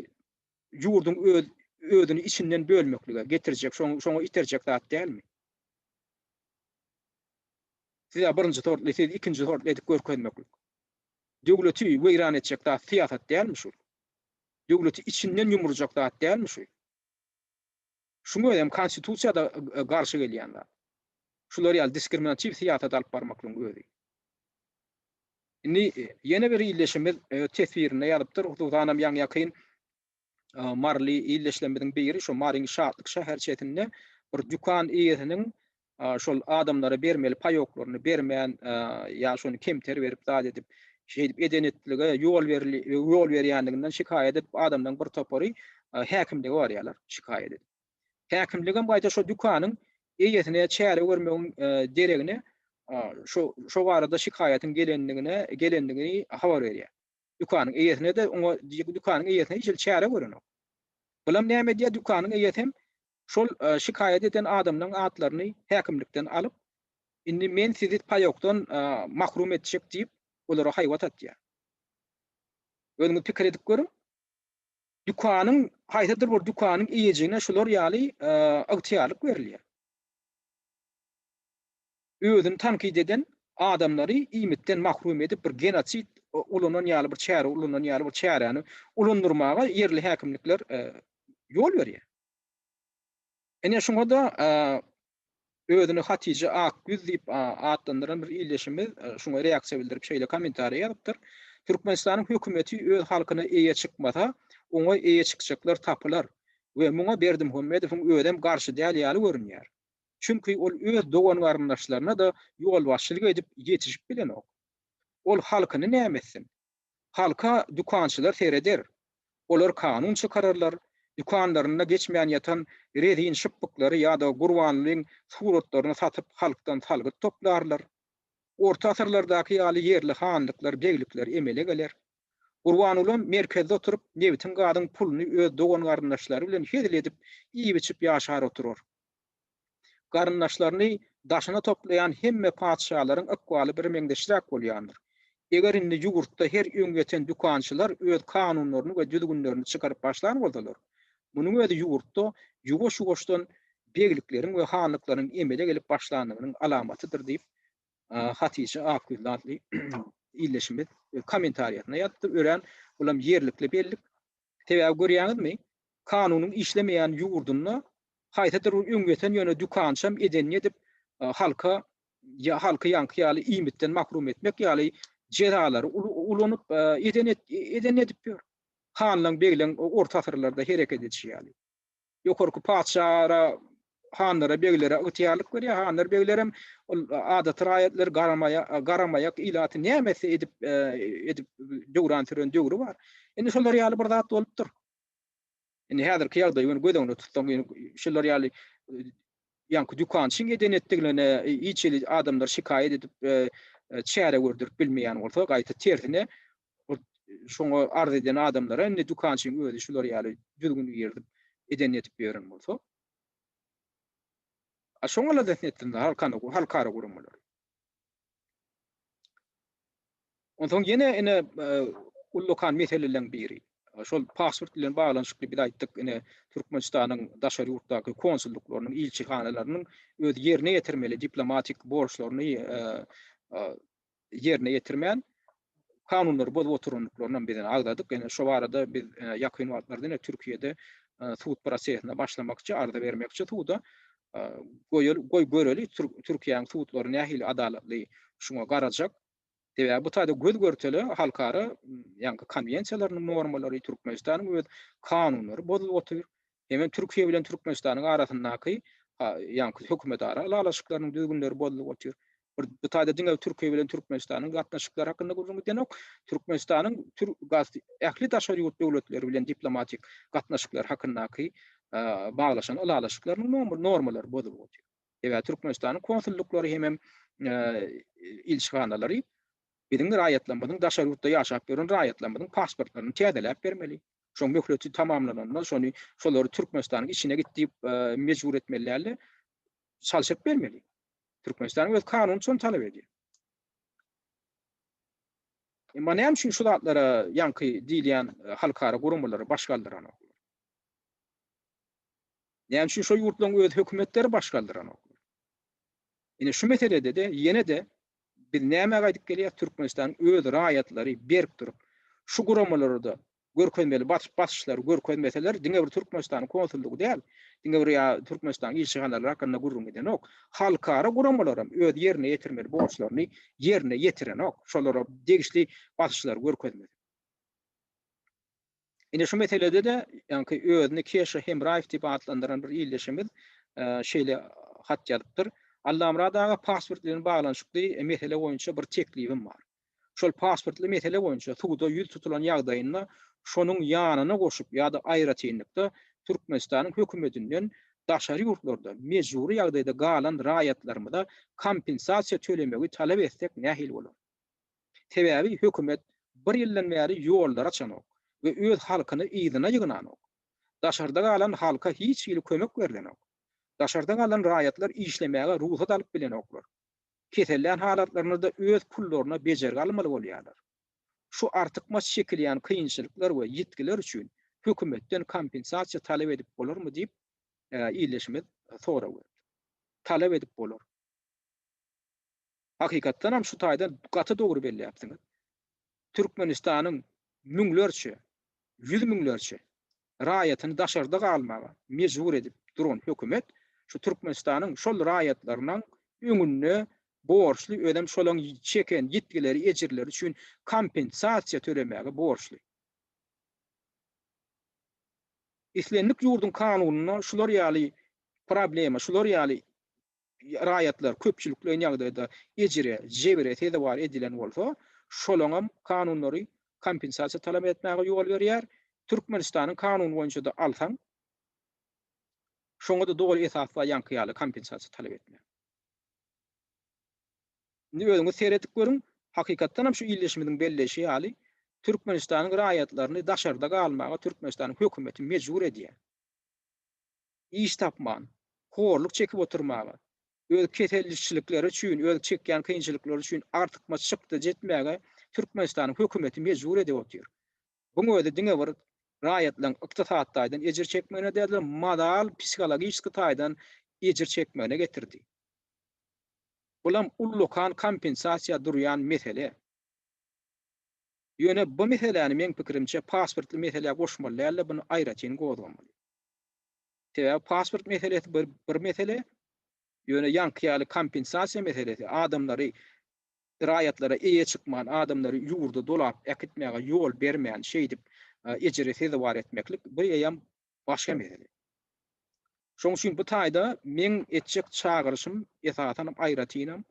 ýurduň öz özüni içinden bölmeklige getirjek şoň şoňa iterjek zat dälmi? Siz-ä birinji sortly, siz ikinji sortly edip görkezmeklik. Döwleti weýran etjek zat syýasat dälmi şu? Döwleti içinden ýumurjak zat dälmi şu? Şuň özem konstitusiýada garşy gelýän zat. Şular ýaly diskriminatiw syýasat alyp barmaklygyň özi. Indi ýene bir ildeşimiz öz teswirinde ýazypdyr, hususanam ýaňy-ýakyn maryly ildeşlerimiziň biri şu Maryň Şatlyk şäherçesinde bir dükan eýesiniň şol adamlara bermeli paýoklaryny bermän ýa şony kemter berip zat edip şeýdip eden etdilige ýol ýol berýänliginden şikaýat edip adamlaryň bir topary häkimlige barýarlar şikaýat edip. Häkimligem gaýta şo dükanyň eýesine çäre görmegiň deregine şo şo barada şikaýatyň gelenligine gelenligini habar berýär. Dükanyň eýesine-de oňa dükanyň eýesine hiç hili çäre görenok. Bulam näme edýär dükanyň eýesem şol şikaýat eden adamlaryň atlaryny häkimlikden alyp, indi men sizi paýokdan mahrum etjek diýip, olara haýbat atýar. Özüňiz pikir edip görüň, dükanyň, haýsydyr bir dükanyň eýejigine şular ýaly ygtyýarlyk berilýär. Özüni tankyt eden adamlary iýmitden mahrum edip, bir genosid ulanan ýaly bir çäre ulanan ýaly bir çäräni ulandyrmaga ýerli häkimlikler ýol berýär. Ine, şuňa-da özüni Hatije Akgüz diýip atlandyran bir ildeşimiz şuňa reaksiýa bildirip, şeýle kommentariý ýazypdyr, Türkmenistanyň hökümeti öz halkyna eýe çykmasa, oňa eýe çykjaklar tapylar we muňa Berdimuhamedowyň özem garşy däl ýaly görünýär. Çünki ol öz dogan-garyndaşlaryna-da ýolbaşçylyk edip ýetişip bilenok. Ol halkyny näme etsin? Halka dükançylar sereder. Olar kanun çykararlar, dükanlarynda geçmän ýatan rezin şypbyklary ýa-da gurbanlyň suratlaryny satyp halkdan salgyt toplarlar. Orta asyrlardaky ýaly ýerli hanlyklar, beglikler emele geler. Gurbangulam merkezde oturyp nebitiň-gazyň puluny öz dogan-garyndaşlary bilen hezil edip, iýip-içip ýaşar oturar. Garyndaşlaryny daşyna toplaýan hemme patyşalaryň ykbaly birmeňzeşräk bolýandyr. Eger indi ýugurtda her öň ýeten dükançylar öz kanunlaryny we düzgünlerini çykaryp başlan bolsalar, munuň özi ýugurtda ýuwaş-ýuwaşdan beglikleriň we hanlyklaryň emele gelip başlandygynyň alamatydyr diýip, Hatije Akgözli atly ildeşimiz kommentariýasynda ýazypdyr. Örän, bulam ýerlikli bellik. Sebäbi görýäňizmi, kanunyň işlemeýän ýurdunda haýsydyr bir öň ýeten ýöne dükançam edenini edip, halka ýa halky ýaňky ýaly iýmitden mahrum etmek ýaly jezalary ulanyp, edeni edip ýör. Hanlaň, begleň orta asyrlarda hereket edişi ýaly. Ýokarky patyşalara, hanlara, beglere ygtyýarlyk berýär. Hanlar, begler hem ol adaty raýatlary garamaýak ilaty näme etse edip edip döwran süren döwri bar. Indi şolar ýaly bir zat bolupdyr. Indi häzirki ýagdaýy göni göz öňünde tutsaň, şular ýaly Ýaňky dükançyň eden etdigine hiç hili adamlar şikaýat edip çäre gördürip bilmeýän bolsa gaýta tersine şoňa arz eden adamlara indi dükançyň özi şular ýaly düzgün girdip eden edip ýören bolsa şoňa-la zehn etsinler halkara guramalar. Onsoň ýene ine ullakan meseleleriň biri. Şol pasport bilen baglanyşykly biz aýtdyk, ine Türkmenistanyň daşary ýurtdaky konsullyklarynyň, ilçihanalarynyň öz ýerine ýetirmeli diplomatik borçlaryny ýerine ýetirmän, kanunlary bozup oturandyklaryny hem biz ine agzadyk. Ine şu barada biz ýakyn wagtlarda ine Türkiýede sud prosesine başlamakçy, arza bermekçi suda. Goý göreli Türkiýäniň sudlary nähili adalatly şuňa garajak. Sebäbi bu taýda göz görtele halkara ýaňky konwensiýalarynyň normalary, Türkmenistanyň öz kanunlary bozulyp otyr. Hemem Türkiýe bilen Türkmenistanyň arasyndaky ýaňky hökümetara ylalaşyklarynyň düzgünleri bozulyp otyr. Bir bu taýda diňe Türkiýe bilen Türkmenistanyň gatnaşyklary hakynda gürrüň gidenok. Türkmenistanyň ähli daşary ýurt döwletleri bilen diplomatik gatnaşyklary hakyndaky baglaşan ylalaşyklarynyň normalary bozulyp otyr. Sebäbi Türkmenistanyň konsullyklary hemem ilçihanalary Biziň raýatlarymyzyň daşary ýurtda ýaşap ýören raýatlarymyzyň pasportlaryny täzeläp bermeli. Şoň möhleti tamamlananda şony şolary Türkmenistanyň içine git diýip mejbur etmeli dälde çalşyryp bermeli. Türkmenistanyň öz kanuny şony talap edýär. Emma näme üçin şu zatlara ýaňky diýilýän e, halkara guramalary baş galdyranok? Näme üçin şu ýurtlaryň öz hökümetleri baş galdyranok? Ine şu meselede-de ýene-de Biz nämäge aýdyp gelýäs, Türkmenistanyň öz raýatlary berk durup, şu guramalarda görkezmeli basyşlary görkezmeseler, diňe bir Türkmenistanyň konsullygy däl, diňe bir ýa Türkmenistanyň ilçihanalary hakynda gürrüň edenok, halkara guramalaram öz ýerine ýetirmeli borçlaryny ýerine ýetirenok, şolara degişli basyşlary görkezmese. Ine şu meselede-de ýaňky özüni Keşa Hemraýew diýip atlandyran bir ildeşimiz şeýle hat ýazypdyr, Allamyrat aga pasport bilen baglanyşykly mesele boýunça bir teklibim bar. Şol pasportly mesele boýunça suda ýüz tutulan ýagdaýynda şonuň ýanyna goşup ýa-da aýratynlykda Türkmenistanyň hökümetinden daşary ýurtlarda mejbury ýagdaýda galan raýatlarymyza kompensasiýa tölemegi talap etsek nähili bolar? Sebäbi hökümet bir ýyldan bäri ýollary açanok we öz halkyny yzyna ýygnanok. Daşarda galan halka hiç hili kömek berlenok. Daşarda galan raýatlar işlemäge rugsat alyp bilenoklar. Kesellän halatlarynda-da öz pullaryna bejergi almaly bolýarlar. Şu artykmaç çekilýän kynçylyklar we ýitgiler üçin hökümetden kompensasiýa talap edip bolarmy diýip, ildeşimiz sorag beripdi. Talap edip bolar. Hakykatdanam şu taýdan gaty dogry belläpsiňiz. Türkmenistanyň müňlerçe, ýüz müňlerçe raýatyny daşarda galmaga mejbur edip duran hökümet şu Türkmenistanyň şol raýatlarynyň öňünde borçly, özem şolaň çeken ýitgileri, ejirleri üçin kompensasiýa tölemäge borçly. Islendik ýurduň kanunynda şular ýaly problema, şular ýaly raýatlar köpçülikleýin ýagdaýda ejire, jebire sezewar edilen bolsa, şolaňam kanunlary kompensasiýa talap etmäge ýol berýär. Türkmenistanyň kanuny boýunça-da alsaň, şoňa-da doly esas bar ýaňky ýaly kompensasiýa talap etmäge. Indi özüňiz seredip görüň, hakykatdanam şu ildeşimiziň belleýşi ýaly, Türkmenistanyň raýatlaryny daşarda galmaga Türkmenistanyň hökümeti mejbur edýär. iş tapman, horluk çekip oturmaga, öz kesellişçilikleri üçin, öz çekýän kynçylyklary üçin artykmaç çykda jetmäge Türkmenistanyň hökümeti mejbur edip otyr. Buň özi diňe bir raýatlaryň ykdysady taýdan ejir çekmegine däldir, moral, psihologiçski taýdan ejir çekmegine getirdi. Bulam ullakan kompensasiýa durýan mesele. Ýöne bu meseläni meň pikirimçe pasportly meselä goşmaly dälde, buny aýratyn gozgamaly. Sebäbi pasport meselesi bir bir mesele, ýöne ýaňky ýaly kompensasiýa meselesi, adamlary raýatlara eýe çykman, adamlary ýurda dolap äkitmäge ýol bermän, şeýdip ejire sezewar etmeklik bu eýýäm başga mesele. Şonuň üçin bu taýda meň etjek çagyryşym esasan hem aýratynam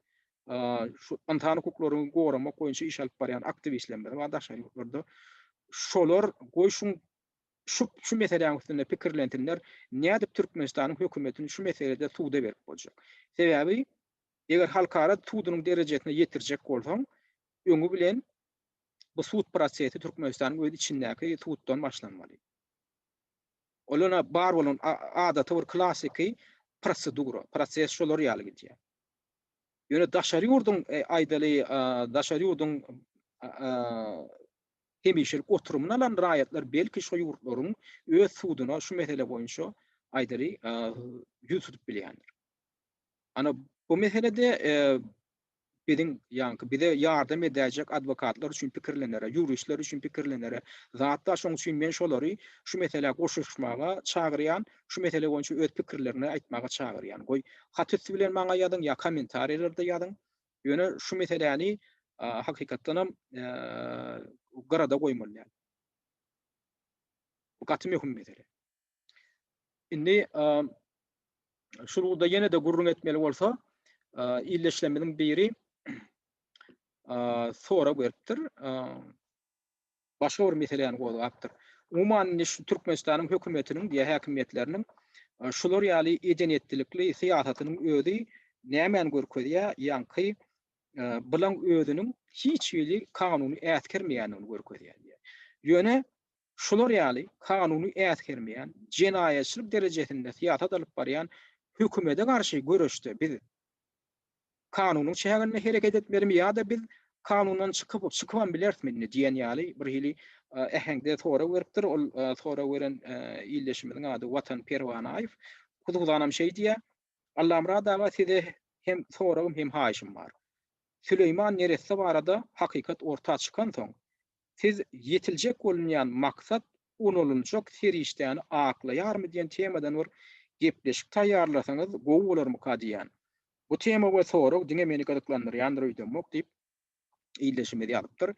şu ynsan hukuklaryny goramak boýunça iş alyp barýan aktiwistlerimize we daşary ýurtlarda şolar goý şu şu şu meseläň üstünde pikirlensinler, nädip Türkmenistanyň hökümetini şu meselede suda berip boljak. Sebäbi eger halkara sudunyň derejesine ýetirjek bolsaň, öňi bilen bu sud prosesi Türkmenistanyň öz içindäki suddan başlanmaly. Ol ýöne bar bolan adaty bir klassyky prosedura, proses şolar ýaly gidýär. Ýöne daşary ýurduň aýdaly daşary ýurduň hemişelik oturymyny alan raýatlar belki şo ýurtlaryň öz suduna şu mesele boýunça aýdaly ýüz tutup bilýändir. Ana bu meselede biziň ýaňky bize ýardam edäýjek adwokatlar üçin pikirlenere, ýuristler üçin pikirlenere zat bar. Şoň üçin men şolary şu meselä goşuşmaga çagyrýan, şu mesele boýunça öz pikirlerini aýtmaga çagyrýan. Goý hat üsti bilen maňa ýazyň ýa kommentariýalarda ýazyň. Ýöne şu meseläni hakykatdanam gyrada goýmaly. Bu gaty möhüm mesele. Indi şu ugurda ýene-de gürrüň etmeli bolsa, illeşlemiziň biri sorag beripdir. başga bir meseläni gozgapdyr. Umuman indi şu Türkmenistanyň hökümetiniň diýä häkimiýetleriniň şular ýaly eden-etdilikli syýasatynyň özi nämäni görkezýär? Ýaňky bilaň özüniň hiç hili kanuny äsgermeýändigini görkezýär. Ýöne şular ýaly kanuny äsgermeýän, jenaýatçylyk derejesinde syýasat alyp barýan hökümete garşy göreşde biz kanunyň çäginde hereket etmelimi ýa-da biz kanundan çykyp, çykybam bilerismi indi diýen ýaly bir hili äheňde sorag beripdir. Ol sorag beren ildeşimiziň ady Watan Perwanaýew. Huzuzanam şeý diýýär, Allamyrat aga size hem soragym hem haýyşym bar. Süleýman neresse barada hakykat orta çykansoň, Siz ýetiljek bolunýan maksat ulanylynjak serişdäni aklaýarmy diýen temadan bir gepleşik taýýarlasaňyz gowy bolarmyka diýýän. Bu tema we sorag diňe meni gyzyklandyrýandyr öýdemok diýip, ildeşimiz ýazypdyr.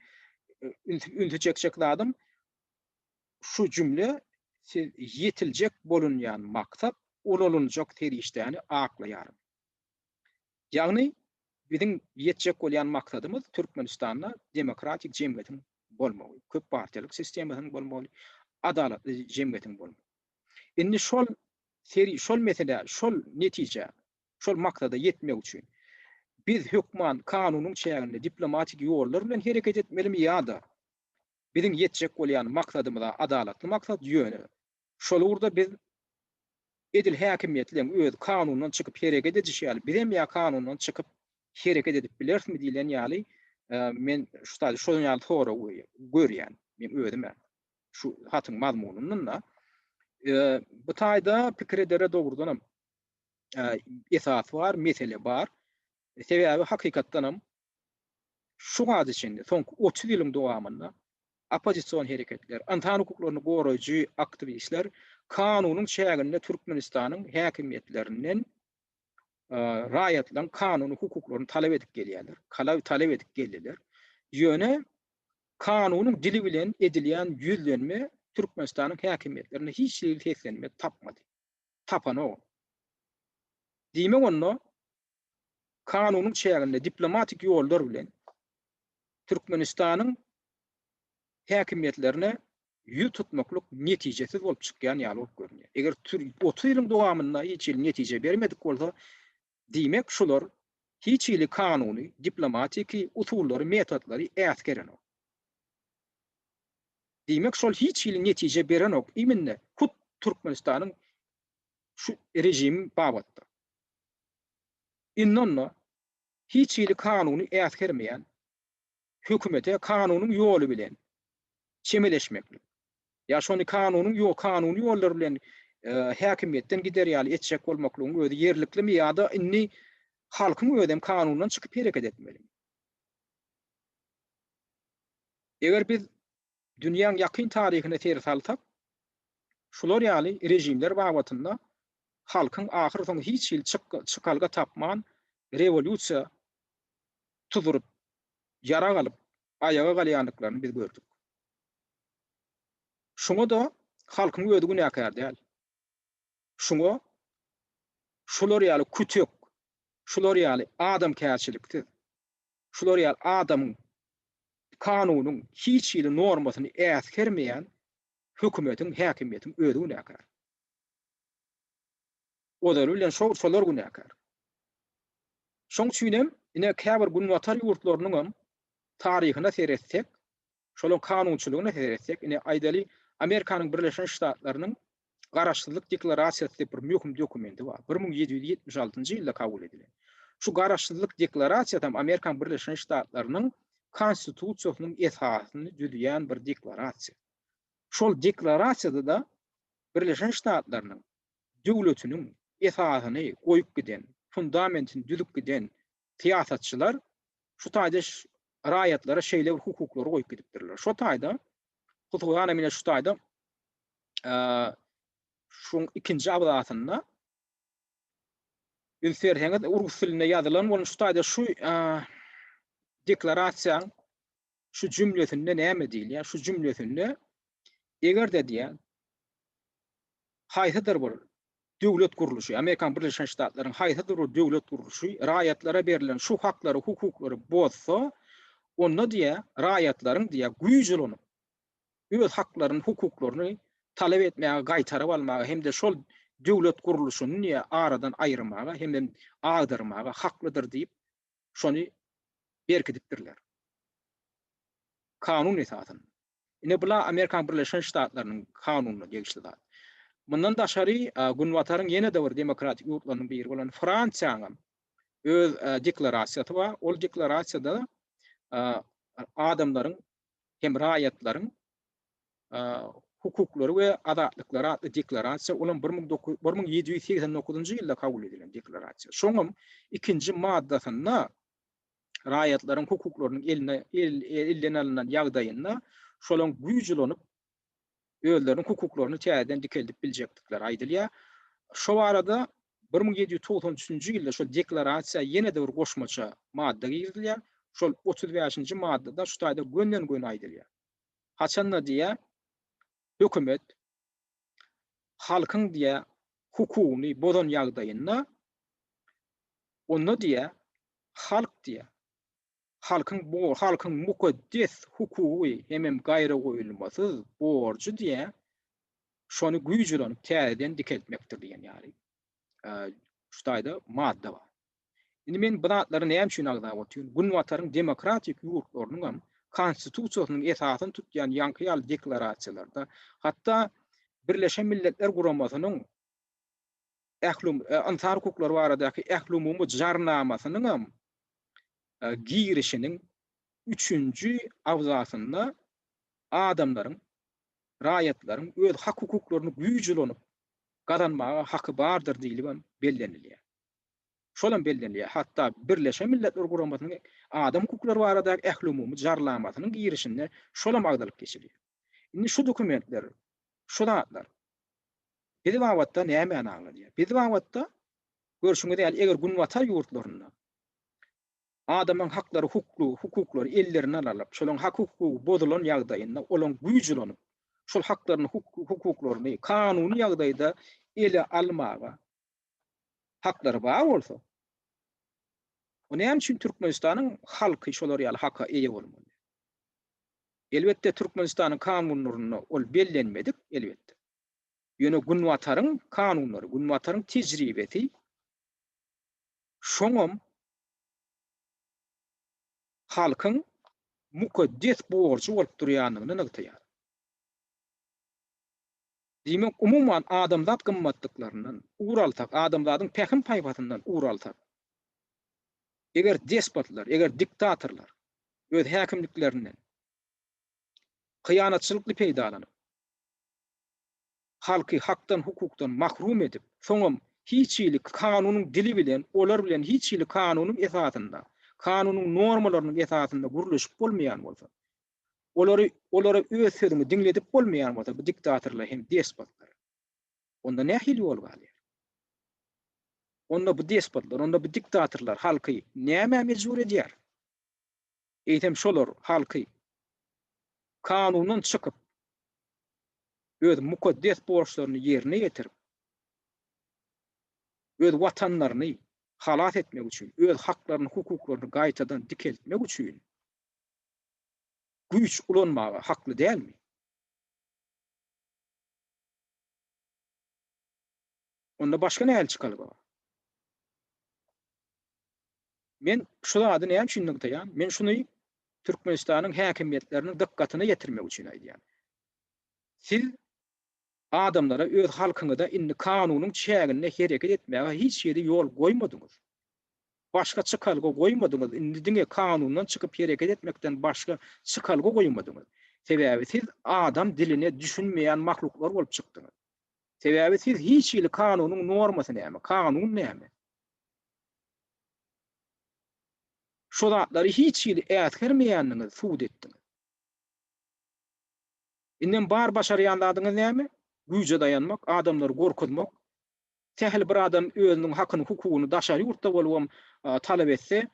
Ünsi çekjek zadym, şu jümle Siz ýetiljek bolunýan maksat ulanylynjak serişdäni aklaýarmy? Ýagny, biziň ýetjek bolýan maksadymyz Türkmenistanda demokratik jemgyýetiň bolmagy, köp partiýalyk sistemasynyň bolmagy, adalatly jemgyýetiň bolmagy. Indi şol seri, şol meselä, şol netijä, şol maksada ýetmek üçin biz hökman kanunyň çäginde diplomatik ýollar bilen hereket etmelimi ýa-da biziň ýetjek bolýan maksadymyza, adalatly maksat, ýöne Şol ugurda biz edil häkimiýetleň özi kanundan çykyp hereket edişi ýaly, bizem ýa kanundan çykyp hereket edip bilerismi diýlen ýaly, men şutaýda şonuň ýaly sorag görýän, men özüm-ä şu hatyň mazmunyndan-da. Bu taýda pikir edere dogrudanam esas bar, mesele bar. Sebäbi hakykatdanam şu wagta çenli, soňky otuz ýylyň dowamynda oppozision hereketler, ynsan hukuklaryny goraýjy aktiwistler kanunyň çäginde Türkmenistanyň häkimiýetlerinden raýatlaryň kanuny hukuklaryny talap edip gelýärler, talap edip geldiler. Ýöne kanunyň dili bilen edilýän ýüzlenme Türkmenistanyň häkimiýetlerinde hiç hili seslenme tapmady. Tapanok. Diýmek onda kanunyň çäginde diplomatik ýollar bilen Türkmenistanyň häkimiýetlerine ýüz tutmaklyk netijesiz bolup çykýan ýaly bolup görünýär. Eger otuz ýylyň dowamynda hiç hili netije bermedik bolsa, diýmek şular hiç hili kanuny, diplomatiki usullary, metotlary äsgerenok. Diýmek şol hiç hili netije berenok imminde hut Türkmenistanyň şu režimi babatda. Indi onda hiç hili kanuny äsgermeýän hökümete kanunyň ýoly bilen çemeleşmeklik, ýa şony kanunyň ýo kanuny ýollar bilen häkimiýetden gider ýaly etjek bolmaklygyň özi ýerliklimi ýa-da indi halkyň özem kanundan çykyp hereket etmelimi? Eger biz Dünýäň ýakyn taryhyna ser salsak, şular ýaly režimler babatynda halkyň ahyrsoňy hiç hili çykalga tapman, rewolýusiýa tuzuryp, ýarag alyp, aýaga galýandyklaryny biz gördük. Şuňa-da halkyň özi günäkär däl. Şuňa şular ýaly kütek, şular ýaly adamkärçiliksiz, şular ýaly adamyň, kanunyň hiç hili normasyny äsgermeýän hökümetiň, häkimiýetiň özi günäkär. Ozaly bilen şo, şolar günäkär. Şoň üçin hem, ine, käbir Günbatar ýurtlarynyňam taryhyna seretsek, Şolaryň kanunçylygyna seretsek, ine, aýdaly, Amerikanyň Birleşen Ştatlarynyň Garaşsyzlyk deklarasiýasy diýip bir möhüm dokumenti bar. Bir müň ýedi ýüz ýetmiş altynjy ýylda kabul edilen. Şu Garaşsyzlyk deklarasiýasam Amerikanyň Birleşen Ştatlarynyň Konstitusiýasynyň esasyny düzýän bir deklarasiýa. Şol deklarasiýada-da Birleşen Ştatlarynyň döwletiniň esasyny goýup giden, fundamentini düzüp giden syýasatçylar şu taýda raýatlara şeýle bir hukuklary goýup gidipdirler. Şo taýda hususan hem şu taýda şuň ikinji abzasynda üns berseňiz rus dilinde ýazylan bolan şu taýda şu deklarasiýaň şu jümlesinde näme diýilýär? Şu jümlesinde eger-de diýýär, haýsydyr bir döwlet gurluşy, Amerikan Birleşen Ştatlaryň haýsydyr bir döwlet gurluşy raýatlara berlen şu haklary, hukuklary bozsa, onda diýýär, raýatlaryň diýýär, güýç ulanyp, öz haklaryny, hukuklaryny talap etmäge, gaýtaryp almaga hem-de şol döwlet gurluşyny diýýär, aradan aýyrmaga hem-de agdyrmaga haklydyr diýip, şony berkidipdirler. Kanun esasynda. Ine bula Amerikan Birleşen Ştatlarynyň kanunyna degişli zat. Mundan daşary Günbataryň ýene-de bir demokratik ýurtlarynyň biri bolan Fransiýanyň öz deklarasiýasy bar. Ol deklarasiýada adamlaryň hem raýatlaryň hukuklary we azatlyklary atly deklarasiýa, olam bir müň dokuz bir müň ýedi ýüz segsen dokuzynjy ýylda kabul edilen deklarasiýa. Şoňam ikinji maddasynda raýatlaryň hukuklarynyň eline elden alnan ýagdaýynda şolaň güýç ulanyp özleriniň hukuklaryny täzeden dikeldip biljekdikleri aýdylýar. Şo arada bir müň ýedi ýüz togsan üçünji ýylda şol deklarasiýa ýene-de bir goşmaça madda girizilýär. Şol otuz bäşinji maddada şu taýda gönden-göni aýdylýar. Haçanda diýýär, hökümet halkyň diýýär, hukugyny bozan ýagdaýynda onda diýýär, halk diýýär, halkyň bu halkyň mukaddes hukugy hemem gaýragoýulmasyz borjy diýä şony güýjüränip täzeden dikeltmekdir diýen ýaly şu taýda madda bar. Indi men bu zatlary näme üçin agzap otyryn? Günbataryň demokratik ýurtlarynyň hem konstitusiýasynyň esasyny tutýan ýaňky ýaly deklarasiýalarda, hatda Birleşen Milletler Guramasynyň ählumumy ynsan hukuklary baradaky ählumumy jarnamasynyň hem girişiniň üçünji abzasynda adamlaryň, raýatlaryň öz hak-hukuklaryny güýç ulanyp gazanmaga haky bardyr diýlip hem bellenilýär. Şol hem bellenilýär, hatda Birleşen Milletler Guramasynyň Adam hukuklary baradaky ählumumy jarlamasynyň girişinde şol hem agzalyp geçilýär. Indi şu dokumentler, şu zatlar bizi babatda nämäni aňladýar? Bizi babatda görşüňiz ýaly, eger günbatar ýurtlarynda adamyň haklary, hukly, hukuklary ellerinden alyp, şolaryň hak-hukugy bozulan ýagdaýynda olaryň güýç ulanyp, şol haklaryny, hukuklaryny kanuny ýagdaýda ele almaga haklary bar bolsa, o näme üçin Türkmenistanyň halky şolar ýaly haka eýe bolmaly? Elbetde, Türkmenistanyň kanunlarynda ol bellenmedik, elbetde. Ýöne Günbataryň kanunlary, Günbataryň tejribesi şoňam halkyň mukaddes borjy bolup durýandygyny nygtaýar. Diýmek, umuman, adamzat gymmatlyklaryndan ugur alsak, adamzadyň pähim-paýhasyndan ugur alsak, eger despotlar, eger diktatorlar öz häkimliklerinden hyýanatçylykly peýdalanyp, halky hakdan-hukukdan mahrum edip, soňam hiç hili kanunyň dili bilen, olar bilen hiç hili kanunyň esasynda, kanunyň normalarynyň esasynda gürleşip bolmaýan bolsa, Olary, olara öz sözüňi diňledip bolmaýan bolsa, bu diktatorlar hem despotlar. Onda nähili ýol galýar? Onda bu despotlar, onda bu diktatorlar halky nämä mejbur edýär? Eýsem şolar halky kanundan çykyp, öz mukaddes borçlaryny ýerine ýetirip, öz watanlaryny halas etmek üçin, öz haklaryny, hukuklaryny gaýtadan dikeltmek üçin güýç ulanmaga hakly dälmi? Onda başga nähili çykalga bar? Men şu zady näme üçin nygtaýan? Men şuny Türkmenistanyň häkimiýetleriniň dykgatyna ýetirmek üçin aýdýan. Siz adamlara öz halkyňyza indi kanunyň çäginde hereket etmäge hiç hili ýol goýmadyňyz. Başga çykalga goýmadyňyz, indi diňe kanundan çykyp hereket etmekden başga çykalga goýmadyňyz. Sebäbi siz adam diline düşünmeýän mahluklar bolup çykdyňyz. Sebäbi siz hiç hili kanunyň normasy näme, kanun näme? Şo zatlary hiç hili äsgermeýändiňizi subut etdiňiz. Indem bar başarýan zadyňyz näme? Güýje daýanmak, adamlary gorkuzmak. Sähel bir adam özüniň hakyny, hukugyny daşary ýurtda bolubam talap etse,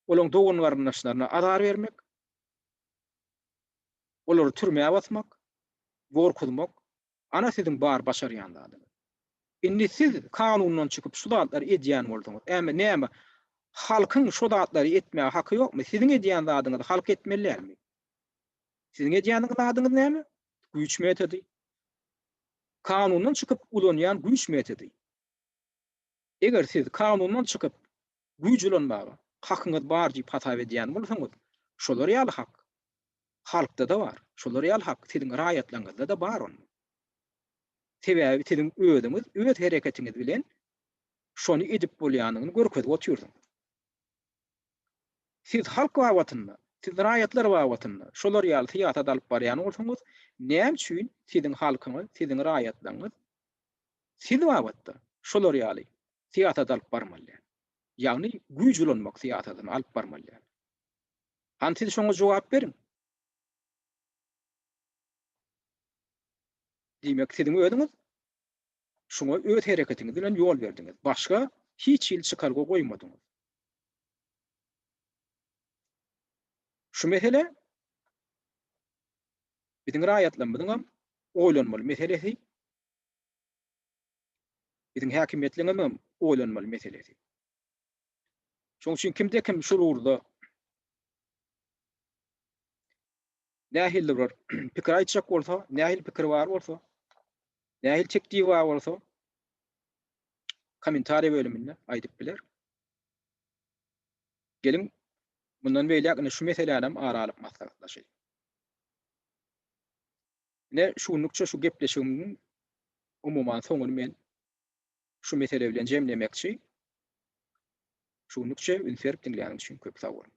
olaň dogan-garyndaşlaryna azar bermek, olary türmä basmak, gorkuzmak. Ana siziň bar başarýan zadyňyz. Indi siz kanundan çykyp şu zatlary edýän bolsaňyz, äme näme, halkyň şo zatlary etmäge haky ýokmy? Siziň edýän zadyňyzy halk etmeli dälmi? Siziň edýäniňiz adyňyz näme? Güýç metody. Kanundan çykyp ulanýan güýç metody. Eger siz kanundan çykyp güýç ulanmaga hakyňyz bar diýip hasap edýän bolsaňyz, şolar ýaly hak halkda-da bar. Şolar ýaly hak siziň raýatlaryňyzda-da bar onda. Sebäbi siziň özüňiz öz hereketiňiz bilen şony edip bolýanyny görkezip otyrsyňyz. Siz halk babatynda, siz raýatlar babatynda şolar ýaly syýasat alyp barýan bolsaňyz, näme üçin siziň halkyňyz, siziň raýatlaryňyz siz babatda şolar ýaly syýasat alyp barmaly däl? Ýagny güýç ulanmak syýasatyny alyp barmaly däl. Hany siz şoňa jogap beriň. Diýmek siziň özüňiz Şuňa öz hereketiňiz bilen ýol berdiňiz. Başga hiç hili çykalga goýmadyňyz. Şu mesele biziň raýatlarymyzyň hem oýlanmaly meselesi, biziň häkimiýetleriňiziň hem oýlanmaly meselesi. Şonuň üçin kimde-kim şul ugurda nähildir bir pikir aýtjak bolsa, nähili pikiri bar bolsa, nähili teklibi bar bolsa, kommentariýa bölüminde aýdyp biler. Geliň, mundan beýläk indi şu meseläni hem ara alyp maslahatlaşaýyň. Ine, şu günlükçe şu gepleşigimiň umuman soňuny men şu mesele bilen jemlemekçi. Şu günlükçe üns berip diňläniňiz üçin köp sag boluň.